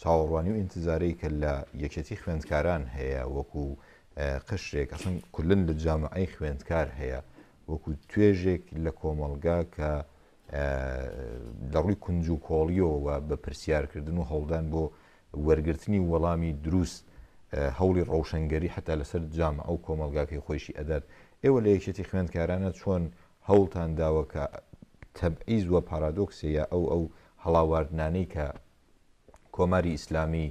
چاوەڕوانی و ئینتزارەی کە لە یەکێتی خوێندکاران هەیە وەکو قشرێک ئەسن کولن لە جامعی خوێندکار هەیە وەکو توێژێک لە کۆمەڵگا کە لە ڕووی کونج و کۆڵیەوە بە پرسیارکردن و هەوڵدان بۆ وەرگرتنی وەڵامی دروست هەوڵی ڕەوشنگەری حتا لەسەر جام ئەو کۆمەلگاکەی خۆشی ئەدات ئێوە لە یەکێتی خوێندکارانە چۆن هەوڵتان داوەکە تەبعیز وە پارادۆکسەیە ئەو ئەو هەڵاواردنانەی کە کۆماری ئیسلامی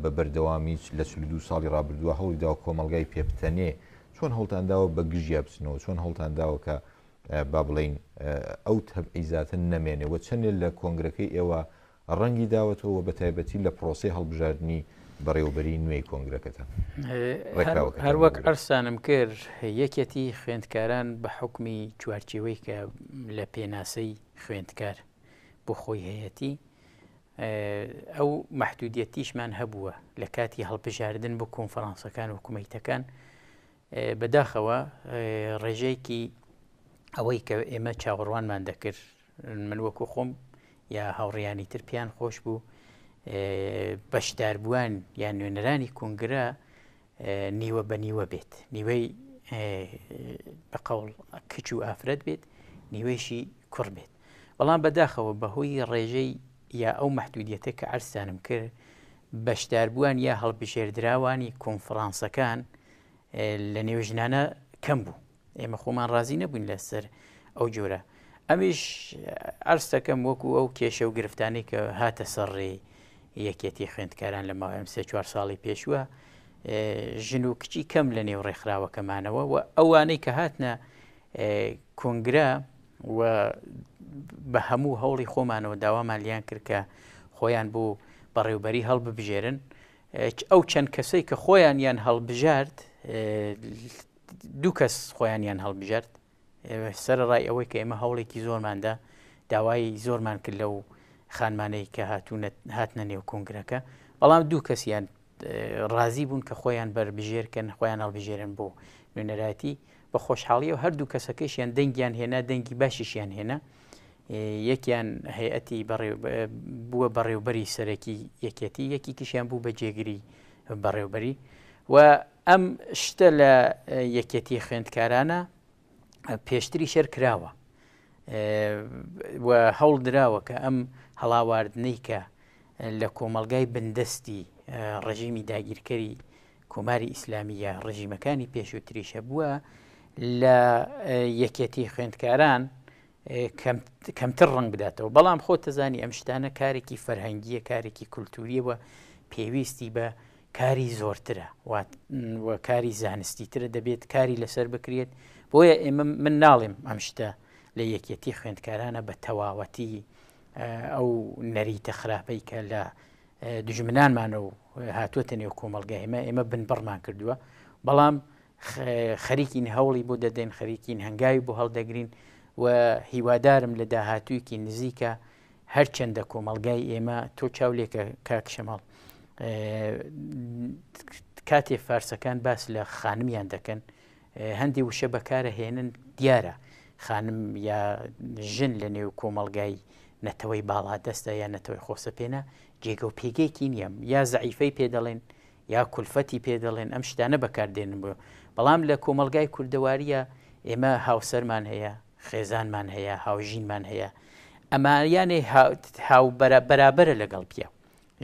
بە بەردەوامی لە چل دو ساڵی ڕابردووە هەوڵی داوە کۆمەلگای پێبتەنێ چۆن هەوڵتان داوە بە گژیا بچنەوە چۆن هەوڵتان داوە کە با بڵین ئەو تەبعیزاتن نەمێنێ و چەندێ لە کۆنگرەکەی ئێوە ڕەنگی داوەتەوە بە تایبەتی لە پرۆسی هەڵبژاردننی بەڕێوبەری نوێی کۆنگرەکەتان هەروەک ئەرسانم کرد یەکێتی خوێندکاران بە حکمی چوارچەوەی کە لە پێناسەی خوێندکار بۆ خۆی هەیەتی ئەو مەحدودیەتیشمان هەبووە لە کاتی هەڵبژاردن بۆ کۆنفرانسەکان و کومیتەکان بەداخەوە ڕێژەیەکی ئەوەی کە ئێمە چاوەڕوانمان دەکرد من وەکو خۆم یا هاوڕیانی تر پێیان خۆش بوو بەشداربووان یان نوێنەرانی کونگرە نیوە بە نیوە بێت نیوەی بە قەوڵ کچ و ئافرەت بێت نیوەیشی کوڕ بێت بەڵام بەداخەوە بەهۆی ڕێژەی یا ئەو مەحدودیەتە کە عرسانم کرد بەشداربووان یا هەڵبژێردراوانی کۆنفرانسەکان لە نێو ژنانە کەم بوو ئێمە خۆمان ڕازی نەبووین لەسەر ئەو جۆرە ئەمیش ئەرستەکەم وەکو ئەو کێشە و گرفتانی کە هاتە سەرڕێ یەکێتی خوێندکاران لە ماوەم سێ چوار ساڵی پێشوە ژن و کچی کەم لە نێو ڕێکخراوەکەمانەوە و ئەوانەی کە هاتنە کۆنگرا و بە هەموو هەوڵی خۆمانەوە داوامان لیان کرد کە خۆیان بۆ بەڕێوبەری هەڵببژێرن ئەو چەند کەسەی کە خۆیان یان هەڵبژارد دوو کەس خۆیانیان هەڵبژارد سەرڕای ئەوەی کە ئێمە هەوڵێکی زۆرماندا داوای زۆرمان کرد لەو خانمانەی کە هاتوونە هاتنە نێو کۆنگرەکە بەڵام دوو کەسیان ڕازی بوون کە خۆیان بەربژێرکەن خۆیان هەڵبژێرن بۆ نوێنەراتی بە خۆشحاڵی و هەردوو کەسەکەشیان دەنگیان هێنا دەنگی باشیشیان هێنا یەکیان هەیەتی بووە بەڕێوبەری سەرەکی یەکێتی یەکی کشیان بوو بە جێگری بەڕێوبەری و ئەم شتە لە یەکێتی خوێندکارانە پێشتری شەر کراوە هەوڵ دراوە کە ئەم هەڵاواردنەی کە لە کۆمەلگای بندستی ڕژیمی داگیرکەری کۆماری ئیسلامیە ڕژیمەکانی پێشووتریشە بووە لە یەکێتی خوێندکاران کەمتر ڕەنگ بداتەوە، بەڵام خۆتەزانی ئەم شتانە کارێکی فەرهەنگییە، کارێکی کولتوورییە و پێویستی بە کاری زۆرترە و کاری زانستی ترە دەبێت کاری لەسەر بکرێت، بۆیە ئێمە من ناڵێم ئەم شتە لە یەکێتی خوێندکارانە بە تەواوەتی ئەو نەریتە خراپەی کە لە دژمنانمانە و هاتووەتە نێو کۆمەلگای ئمە ئێمە بنبڕمان کردووە بەڵام خەریکین هەوڵی بۆ دەدەین خەریکین هەنگاوی بۆ هەڵدەگرین و هیوادارم لە داهاتوویەکی نزیکە هەرچەندە کۆمەلگای ئێمە تۆ چاو لێکە کاکشەماڵ کاتێ فارسەکان باس لە خانمیان دەکەن هەندی وشە بەکارە هێنن دیارە خانم یا ژن لە نێو کۆمەلگای نەتەوەی باڵا دەستە یا نەتەوەی خۆسەپێنە جێگە و پێگەیەکی نیەم یا زعیفەی پێ دەڵێن یا کولفەتی پێ دەڵێن ئەم شتانە بەکار دێنن بۆ بەڵام لە کۆمەڵگای کوردەواریە ئێمە هاوسەرمان هەیە خێزانمان هەیە هاوژینمان هەیە ئەماریانێ هاو بەرابەرە لەگەڵ پیاو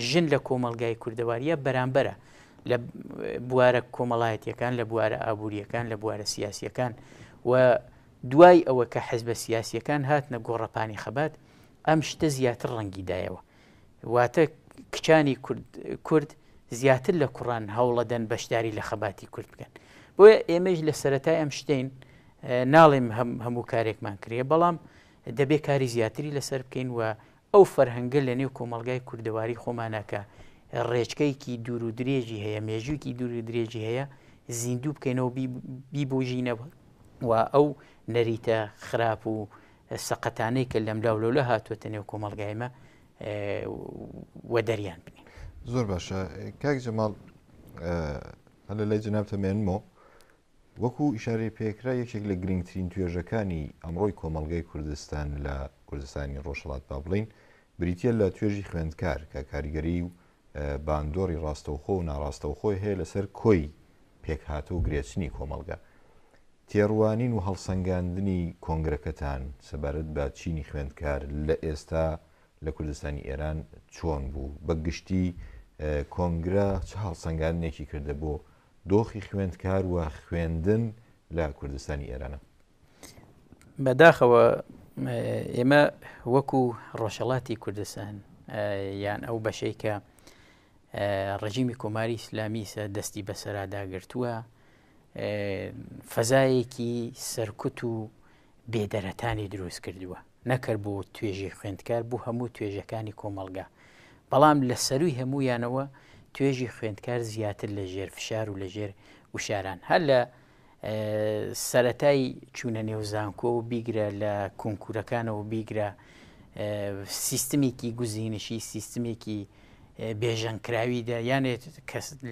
ژن لە کۆمەلگای کوردەواریە بەرامبەرە لە بوارە کۆمەڵایەتیەکان لە بوارە ئابوووریەکان لە بوارە سیاسیەکان و دوای ئەوە کە حزبە سیاسیەکان هاتنە گۆڕەپانی خەبات ئەم شتە زیاتر ڕەنگیدایەوە واتە کچانی کورد کورد زیاتر لە کوڕان هەوڵەدەن بەشداری لە خەباتی کورد بکەن بۆیە ئێمەش لە سەتای ئەم شتین ناڵێم هەموو کارێکمان کرێ بەڵام دەبێ کاری زیاتری لەسەر بکەین و ئەو فەرهەنگە لە نێو کۆمەلگای کوردەواری خۆمانەکە ڕێچکەیەکی دوور و درێژی هەیە مێژوویکی دوور و درێژی هەیە زیندوو بکەینەوە بیبژینەوە و ئەو نەریتە خراپ و سەقەتانەی کە لەملا و لەولە هاتووەتە نێو کۆمەلگای مە و دەریان بنین زۆر باشە کاک جەماڵ هە لە لای جنابتە مێنمەوە وەکو ئیشارەی پێکرا یەکێک لە گرنگترین توێژەکانی ئەمڕۆی کۆمەلگای کوردستان لە کوردستانی ڕۆژهڵات با بڵین بریتە لە توێژی خوێندکار کە کاریگەری و باندۆری ڕاستەوخۆ و ناڕاستەوخۆی هەیە لەسەر کۆی پێکهاتە و گرێچنی کۆمەڵگە. تێڕوانین و هەڵسەنگاندنی کۆنگرەکەتان سەبارەت بە چینی خوێندکار لە ئێستا لە کوردستانی ئێران چۆن بوو؟ بە گشتی کۆنگرە چ هەڵسەنگاندنێکی کردە بۆ دۆخی خوێندکار و خوێندن لە کوردستانی ئێران؟ بەداخەوە ئێمە وەکو ڕۆژەڵاتی کوردستان یان ئەو بەشەی کە ڕژیمی کۆماری ئیسلامیسە دەستی بەسەراداگرتووە فەزایەکی سەرکوت و بێدەرەتانی دروست کردووە نەکرد بۆ توێژی خوێندکار بوو هەموو توێژەکانی کۆمەلگا بەڵام لە سەروی هەموویانەوە توێژی خوێندکار زیاتر لە ژێر فشار و لە ژێر وشاران هەر لە سەرەتای چوونە نێو زانکۆ و بیگرە لە کونکورەکانەوە بیگرە سیستمێکی گوزینشی سیستمێکی بێژەنکراوی دەیانێت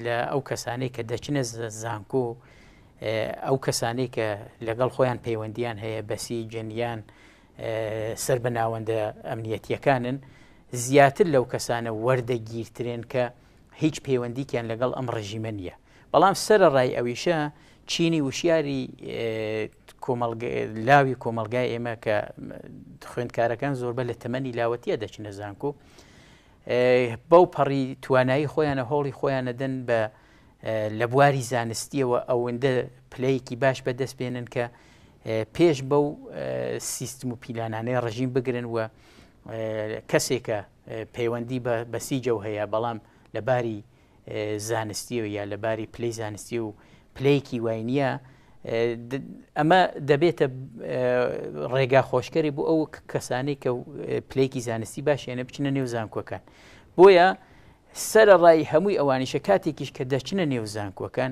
لە ئەو کەسانەی کە دەچنە زانکۆ ئەو کەسانەی کە لەگەڵ خۆیان پەیوەندیان هەیە بەسی جەنیان سەر بە ناوەندە ئەمنیەتیەکانن زیاتر لەو کەسانە وەردەگیرترێن کە هیچ پەیوەندیکیان لەگەڵ ئەم ڕژیمە نییە بەڵام سەرەڕای ئەویشە چینی وشیاری لاوی کۆمەلگای ئێمە کە خوێندکارەکان زۆربە لە تەمەنی لاوەتیە دەچنە زانکۆ بەو پەڕی توانایی خۆیانە هۆڵی خۆیانەدەن بە لە بواری زانستیەوە ئەوەندە پلەیەکی باش بەدەست بێنن کە پێش بەو سیستم و پیلانانەی ڕژیم بگرن و کەسێکە پەیوەندی بە بەسیجە و هەیە بەڵام لەباری زانستیەوە یا لە باری پلەی زانستی و پلەیەکی وای نییە ئەمە دەبێتە ڕێگا خۆشکەری بۆ ئەو کەسانی کە پلەیەکی زانستی باشێنە بچنە نێو زانکۆکان بۆیە سەرە ڕای هەمووی ئەوانیشە کاتێکیش کە دەچنە نێو زانکۆکان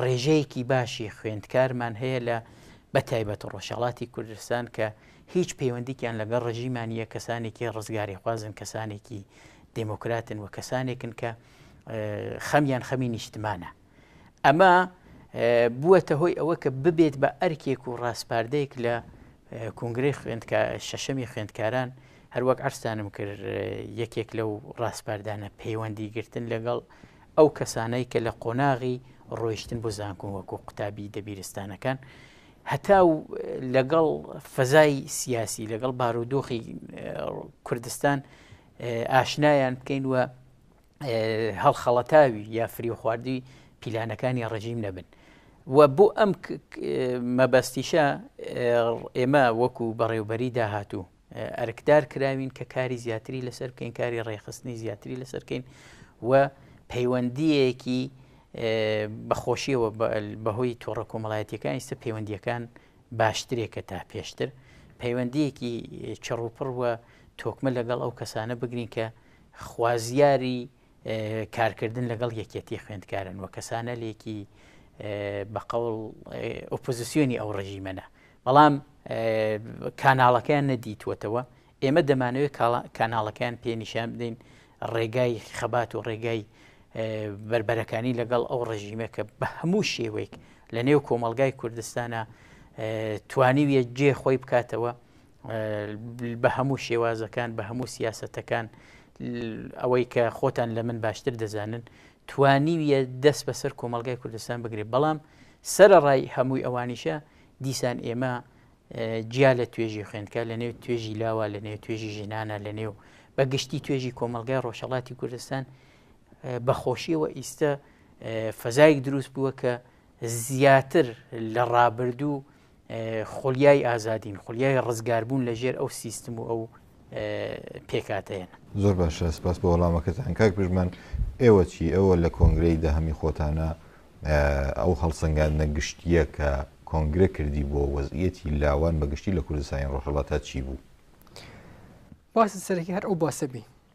ڕێژەیەکی باشی خوێندکارمان هەیە لە بە تایبەت ڕۆژهڵاتی کوردستان کە هیچ پەیوەندیکیان لەگەڵ ڕژیمانە کەسانێکی ڕزگاری خوازن کەسانێکی دموکراتن و کەسانێکن کە خەمیان خەمی نیشتمانە ئەمە بووەتە هۆی ئەوە کە ببێت بە ئەرکێک و ڕاسپاردەیەک لە کنگری خوێندکە شەشەمی خوێندکاران هەروەک ئەرسانم کرد یەکێک لەو ڕاسپاردانە پەیوەندی گرتن لەگەڵ ئەو کەسانەی کە لە قۆناغی ڕۆیشتن بۆ زانکۆن وەکو قوتابی دەبیرستانەکان هەتاو لەگەڵ فەزای سیاسی لەگەڵ بارودۆخی کوردستان ئاشنایان بکەین وە هەڵخەڵەتاوی یا فری و خواردی پیلانەکانی ڕژیم نەبن و بۆ ئەم مەبەستیشە ئێمە وەکو بەڕێوبەری داهاتوو ئەرکدار کراوین کە کاری زیاتری لەسەر بکەین کاری ڕێخستنی زیاتری لەسەر بکەین و پەیوەندیەکی بەخۆشیەوە بەهۆی تۆڕە کۆمەڵایەتەکان ئیستا پەیوەندیەکان باشترێکە تا پێشتر پەیوەندیەکی چڕوپڕ وە تۆکمە لەگەڵ ئەو کەسانە بگرین کە خوازیاری کارکردن لەگەڵ یەکێتی خوێندکارن و کەسانەلێکی بە قەوڵ ئۆپۆزیسیۆنی ئەو ڕژیمەە بەڵام کاناڵەکەیان نەدیتوەتەوە ئێمە دەمانەوەی کاناڵەکەیان پێنیشان بدەین ڕێگای خەبات و ڕێگای بربەرەکانی لەگەڵ ئەو ڕژیمە کە بە هەموو شێوەیەک لە نێو کۆمەلگای کوردستانە توانیویە جێ خۆی بکاتەوە بە هەموو شێوازەکان بە هەموو سیاسەتەکان ئەوەی کە خۆتان لە من باشتر دەزانن توانیویە دەست بەسەر کۆمەلگای کوردستان بگرێت بەڵام سرە ڕای هەمووی ئەوانیشە دیسان ئێمە جیا لە توێژی خوێندکە لە نێو توێژی لاوە لە نێو توێژی ژنانە لە نێو بە گشتی توێژی کۆمەلگای ڕۆژهڵاتی کوردستان بەخۆشیەوە ئیستە فەزایك دروست بووە کە زیاتر لە ڕابردوو خولیای ئازادین خولیای ڕزگاربوون لە ژێر ئەو سیستم و ئەو پێکاتەیەن زۆر باشە سپاس بە وەڵامەکەتان کاک پژمان ئێوە چی ئەوە لە کۆنگرەی دەهەمی خۆتانە ئەو هەڵسەنگاندنە گشتیە کە کۆنگرە کردی بۆ وەزیەتی لاوان بەگشتی لە کوردستانی ڕۆژهڵاتا چی بوو؟ باسی سەرەکی هەر ئەو باسە بی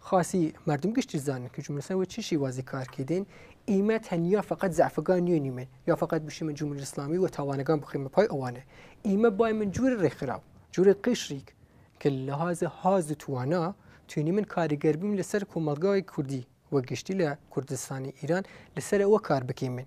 خاسی مردم گشتی زانن کە جملسان وە چی شیوازی کار کردن ئیمە تەنیا فقط زعفگان نیۆنی من یا فقط بشیمە جمل اسلامی و تاوانەگان بخیمە پای ئەوانە ئیمە بای من جوور ڕێکخراو جوور قشریک کە لەهاز هاز و توانا توێنی من کاریگەر بیم لەسەر کۆمەڵگای کوردی وە گشتی لە کوردستانی ئیران لەسەر ئەوە کار بکەیمن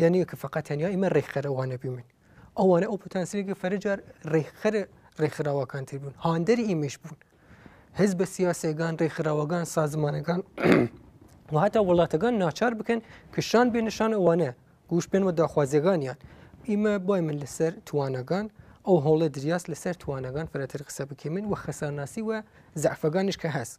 یانە کە فقط تەنیا ئمە ڕێکخەر ئەوانە بووین ئەوانە ئەو پوتانسیلێکی فەرجار ڕێکخەر ڕێکخراوەکان تر بوون هاندەری ئیمەش بوون هەز بە سیاسەکان ڕێکخراوەکان سازمانەکان وهتا وڵاتەکان ناچار بکەن کشان بێ نیشان ئەوانە گوش پێن و داخوازیەکانیان ئیمە بای من لەسەر توانەکان ئەو هەوڵە دریاس لەسەر توانەکان فرەتر قسە بکەمن و خەسانناسی و زعفەکانش کە هەست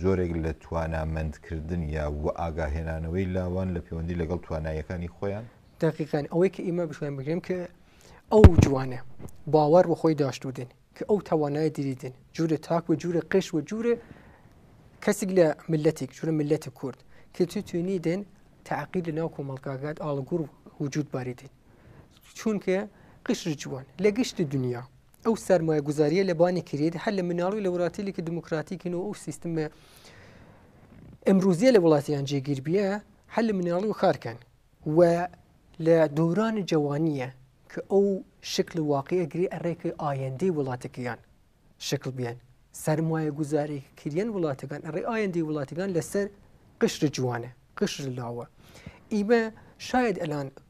جۆرێک لە توانامەندکردن یا وئاگاهێنانەوەی لاوان لە پەیوەندی لەگەڵ توانایەکانی خۆیان دقیقان ئەوەی کە ئیمە بشوێن بگرم کە ئەو جوانە باوەڕ بە خۆی داشتودن کە ئەو توانای دیدن جوورە تاک و جوورە قش و جوورە کەسێک لە ملەتێک جوورە ملەتی کورد کە تو توێنی دێن تاقی لە ناو کۆمەڵگاگات ئاڵگوور وجود باریدن چونکە قشر جوان لە گشتی دنیا ئەو سەرمایەگوزاریە لە بانی کرێت هەر لە مناڵی لە وڵاتیلێکی دموکراتیکن و ئەو سیستمە ئەمروزیە لە وڵاتیان جێگیر بیە هەر لە مناڵی و کارکەن و لە دورانی جوانیە کە ئەو شکل واقع ئەگری ئەڕێکی ئایندەی وڵاتەکەیان شکل بیان سەرمایە گوزاری کریان وڵاتەکان ئەڕێ ئایندەی وڵاتەکان لەسەر قشر جوانە قشر لاوە ئیمە شاید ئەلان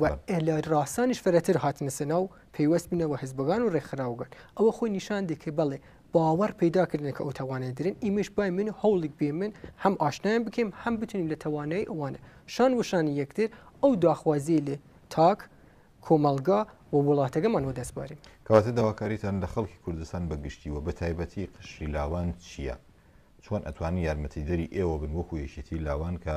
و لە ڕاسانیش فرەتر هاتنە سەناو پەیوەست بنە بە حزبگان و ڕێکخراوگەن ئەوە خۆی نیشان دێ کە بەڵێ باوەڕ پیدا کردن کە ئەو توانای درن ئیمەش بای من هەوڵێک بێ من هەم ئاشنایان بکەم هەم بتونین لە توانایی ئەوانە شان وشانی یەکتر ئەو داخوازی لێ تاک کۆمەلگا و وڵاتەکەمان و دەستبارین. کەواتە داواکاریتان لە خەڵکی کوردستان بە گشتی و بەتایبەتی قشری لاوان چیە؟ چۆن ئەتوانن یارمەتیدەری ئێوە بن وەکو یەکێتی لاوان کە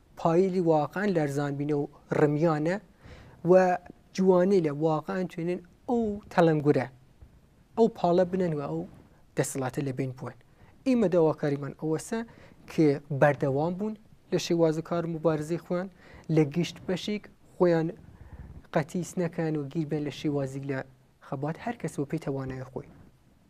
پایلی واقعا لەرزان بینە و ڕمیانە و جوانی لە واقعا توێنن ئەو تەلەنگورە ئەو پاڵە بنەن و ئەو دەسەڵاتە لە بین بوون ئیمە داواکاریمان ئەوەسە کە بەردەوام بوون لە شێوازە کار مبارزی خوان لە گشت بەشێک خۆیان قەتیس نەکەن و گیربێن لە شێوازی لە خەبات هەر کەس بۆ پێی توانای خۆی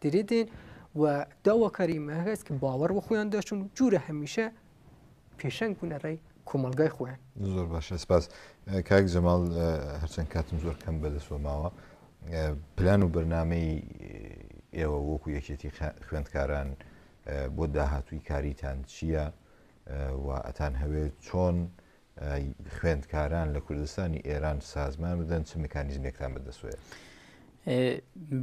دریدین و داواکاری مەهەست کە باوەڕ بە خۆیان داشتن و جوورە هەمیشە پێشەنگ بوونە ڕێی کۆمەلگای خۆیان زۆر باشە سپاس کاک جەماڵ هەرچەند کاتم زۆر کەم بەدەسوە ماوە پلان و بەرنمەی ئێوە وەکو یەکێتی خوێندکاران بۆ داهاتووی کاریتان چییە و ئەتان هەوێت چۆن خوێندکاران لە کوردستانی ئێران سازمان بدەن چ میکانیزمێکتان بەدەسوێت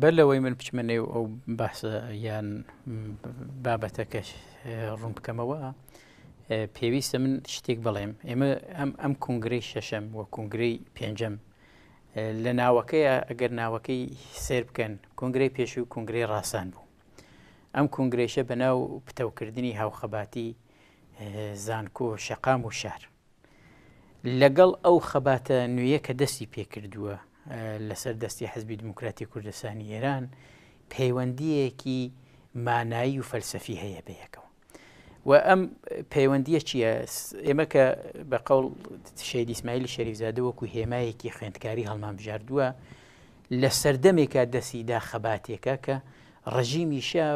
بەر لەوەی من بچمە نێو ئەو باسە یان بابەتەکەش ڕوون بکەمەوە پێویستە من شتێک بڵێم ئێمە ئەم ئەم کنگرەی شەشەم و کنگرەی پێنجەم لە ناوەکەیە ئەگەر ناوەکەی سێر بکەن کنگرەی پێش و کنگرەی ڕاستان بوو ئەم کنگرێشە بە ناو پتەوکردنی هاوخەباتی زانکۆ، شەقام و شار. لەگەڵ ئەو خەباتە نوێیە کە دەستی پێکردووە لەسەر دەستی حزبی دموکراتی کوردستانی ئێران پەیوەندیەکی مانایی و فەلسەفی هەیە بەیەکەوە و ئەم پەیوەندیە چییە ئێمە کە بە قەڵ شەید ئیسماعیلی شەریفزادە وەکو هێمایەکی خوێندکاری هەڵمان بژاردووە لە سەردەمێکا دەستی دا خەباتێکە کە ڕژیمیشە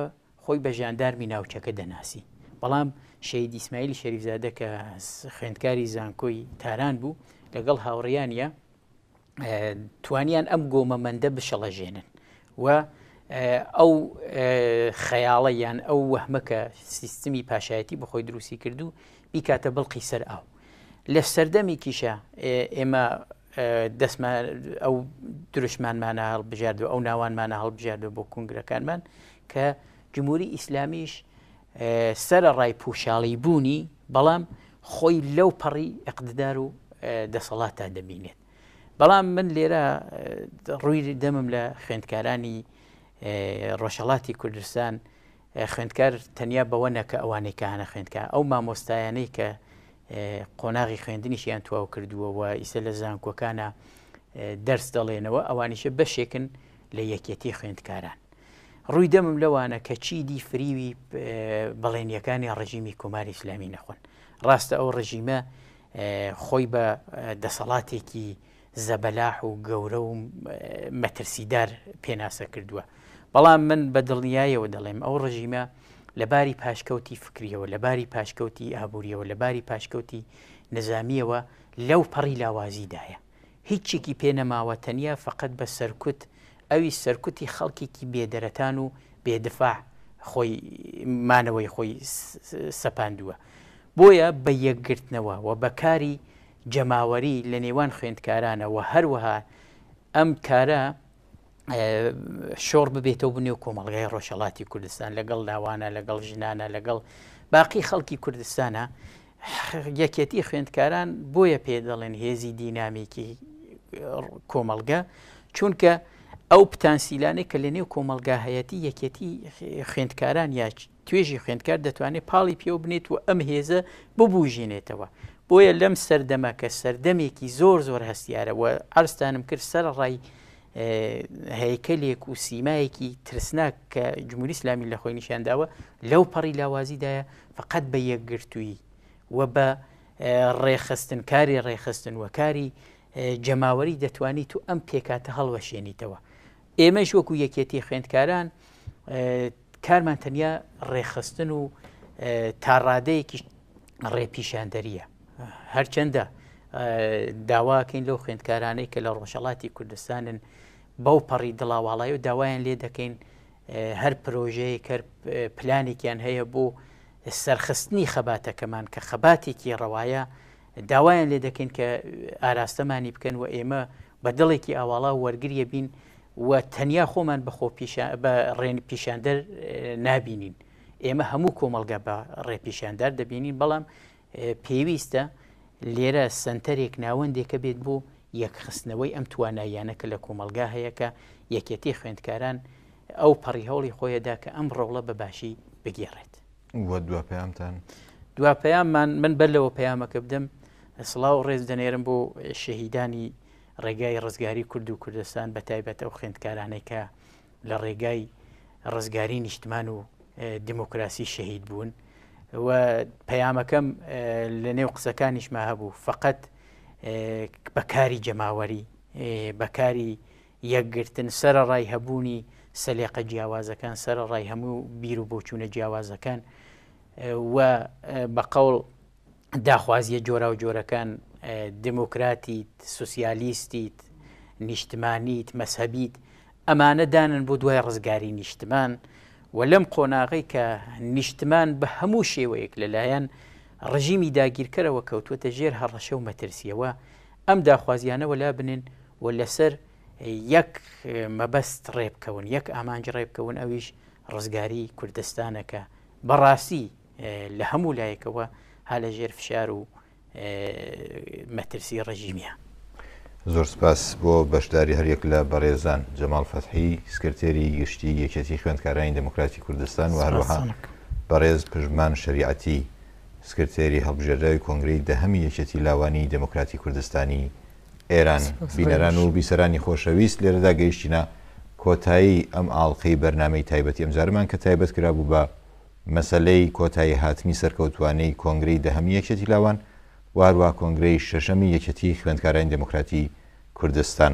خۆی بە ژاندارمی ناوچەکە دەناسی، بەڵام شەهید ئیسماعیلی شەریفزادە کە خوێندکاری زانکۆی تاران بوو لەگەڵ هاوڕیانە توانیان ئەم گۆمەمەندە بشەڵەژێنن و ئەو خەیاڵە یان ئەو وەهمە کە سیستمی پاشایەتی بەخۆی دروستی کردو بیکاتە بڵقی سەر ئاو لە سەردەمیکیشە ئێمە دەستمان ئەو دروشمانمانە هەڵبژاردو ئەو ناوانمانە هەڵبژاردو بۆ کنگرەکانمان کە جمهوری ئیسلامیش سرە ڕای پوشاڵی بوونی بەڵام خۆی لەو پەڕی ئەقددار و دەسەڵاتە دەبینێت بەڵام من لێرە ڕووی دەمم لە خوێندکارانی ڕۆژهڵاتی کوردستان خوێندکار تەنیا بەوە نە کە ئەوانەی کە هانە خوێندکار، ئەو مامۆستایانەی کە قۆناغی خوێندنیشیان تواو کردووە و ئیسە لە زانکۆکانە دەرس دەڵێنەوە ئەوانیشە بەشێکن لە یەکێتی خوێندکاران. ڕووی دەمم لەوانە کە چیدی فریوی بەڵێنیەکانی ڕژیمی کۆماری ئسلامی نەخۆن ڕاستە ئەو ڕژیمە خۆی بە دەسەڵاتێکی زەبەلاح و گەورە و مەترسیدار پێناسە کردووە. بەڵام من بە دڵنیایەوە دەڵێم ئەو ڕژیمە لە باری پاشکەوتی فکرییەوە، لە باری پاشکەوتی ئابوورییەوە، لە باری پاشکەوتی نیزامییەوە لەو پەڕی لاوازیدایە. هیچێکی پێ نەماوە تەنیا فەقەت بە سەرکوت، ئەویش سەرکوتی خەڵکێکی بێ دەرەتان و بێ دفاع خۆی مانەوەی خۆی سەپاندووە. بۆیە بە یەکگرتنەوە و بە کاری جەماوەری لە نێوان خوێندکارانە و هەروەها ئەم کارە شۆڕ ببێتەوە بنێو کۆمەڵگای ڕۆژەڵاتی کوردستان لەگەڵ لاوانە لەگەڵ ژنانە لەگەڵ باقی خەڵکی کوردستانە یەکێتی خوێندکاران بۆیە پێ دەڵێن هێزی دینامیکی کۆمەلگە چونکە ئەو پتانسیلانێک کە لە نێو کۆمەلگا هەیەتی یەکێتی خوێندکاران یاچ توێژی خوێندکار دەتوانێت پاڵی پێوە بنێت و ئەم هێزە ببوژێنێتەوە بۆیە لەم سەردەمە کە سەردەمێکی زۆر زۆر هەستیارە و ئەرستانم کرد سەر ڕای هەیکەلێک و سیمایەکی ترسناک کە جمهوری اسلامی لە خۆی نیشانداوە لەو پەڕی لاوازیدایە فقط بە یەکگرتووی و بە ڕێخستن کاری ڕێخستن و کاری جەماوەری دەتوانیت و ئەم پێکاتە هەڵوەشێنیتەوە ئێمەش وەکو یەکێتی خوێندکاران کارمان تەنیا ڕێکخستن و تا ڕادەیەکیش ڕێ پیشاندەریە هەرچەندە داواکەین لەو خوێندکارانەی کە لە ڕۆژەڵاتی کوردستانن بەو پەڕی دڵاواڵای و داوایان لێ دەکەین هەر پرۆژەیە کە پلانێکیان هەیە بۆ سەرخستنی خەباتەکەمان کە خەباتێکی ڕەوایە داوایان لێ دەکەین کە ئاراستەمانی بکەن و ئێمە بە دڵێکی ئاواڵا وەرگریە بین و تەنیا خۆمان بە خۆ بە ڕێن پیشاندەر نابینین ئێمە هەموو کۆمەلگا بە ڕێپیشاندار دەبینین بەڵام پێویستە لێرە سنتەرێک ناوەندێکە بێت بۆ یەکخستنەوەی ئەم تواناییانە کە لە کۆمەلگا هەیە کە یەکێتی خوێندکاران ئەو پەڕی هەوڵی خۆیەدا کە ئەم ڕۆڵە بە باشی بگێڕێت وە دوا پەیامتان دوا پەیاممان من بەر لەوە پەیامەکە بدەم سڵاو و ڕێز دەنێرم بۆ شەهیدانی ڕێگای ڕزگاری کورد و کوردستان بە تایبەت ئەو خوێندکارانەی کە لە ڕێگای ڕزگاری نیشتمان و دیموکراسی شەهید بوون و پەیامەکەم لە نێو قسەکانیشما هەبوو فقط بەکاری جەماوەری بەکاری یەکگرتن، سەرەڕای هەبوونی سەلێقە جیاوازەکان، سەرەڕای هەموو بیر و بۆچوونە جیاوازەکان و بە قەوڵ داخوازییە جۆراوجۆرەکان، دێموکراتیت، سوسیالیستیت، نیشتمانیت، مەزهەبیت، ئەمانە دانن بۆ دوای ڕزگاریی نیشتمان و لەم قۆناغەی کە نیشتمان بە هەموو شێوەیەک لەلایەن ڕژیمی داگیرکەرەوە کەوتووەتە ژێر هەڕەشە و مەترسییەوە، ئەم داخوازییانە وەلا بنێن و لەسەر یەک مەبەست ڕێبکەون یەک ئامانج ڕێبکەون ئەویش ڕزگاری کوردستانەکە بەڕاستی لە هەموو لایەکەوە ها لە ژێر فشار و مەترسی ڕژیمیە. زۆر سپاس بۆ بەشداری هەریەک لە بەڕێزان جەماڵ فەتحی سکرتێری گشتی یەکێتی خوێندکارانی دموکراتی کوردستان و هەروەها بەڕێز پژمان شەریعەتی سکرتێری هەڵبژێردراوی کۆنگرەی دەهەمی یەکێتی لاوانی دێموکراتی کوردستانی ئێران. بینەران و بیسەرانی خۆشەویست لێرەدا گەیشتینە کۆتایی ئەم ئاڵقەی بەرنامەی تایبەتی ئەمجارەمان کە تایبەت کرابوو بە مەسەلەی کۆتایی هاتنی سەرکەوتووانەی کۆنگرەی دەهەمی یەکێتی لاوان و هەروەها کۆنگرەی شەشەمی یەکێتی خوێندکارانی دێموکراتی کوردستان.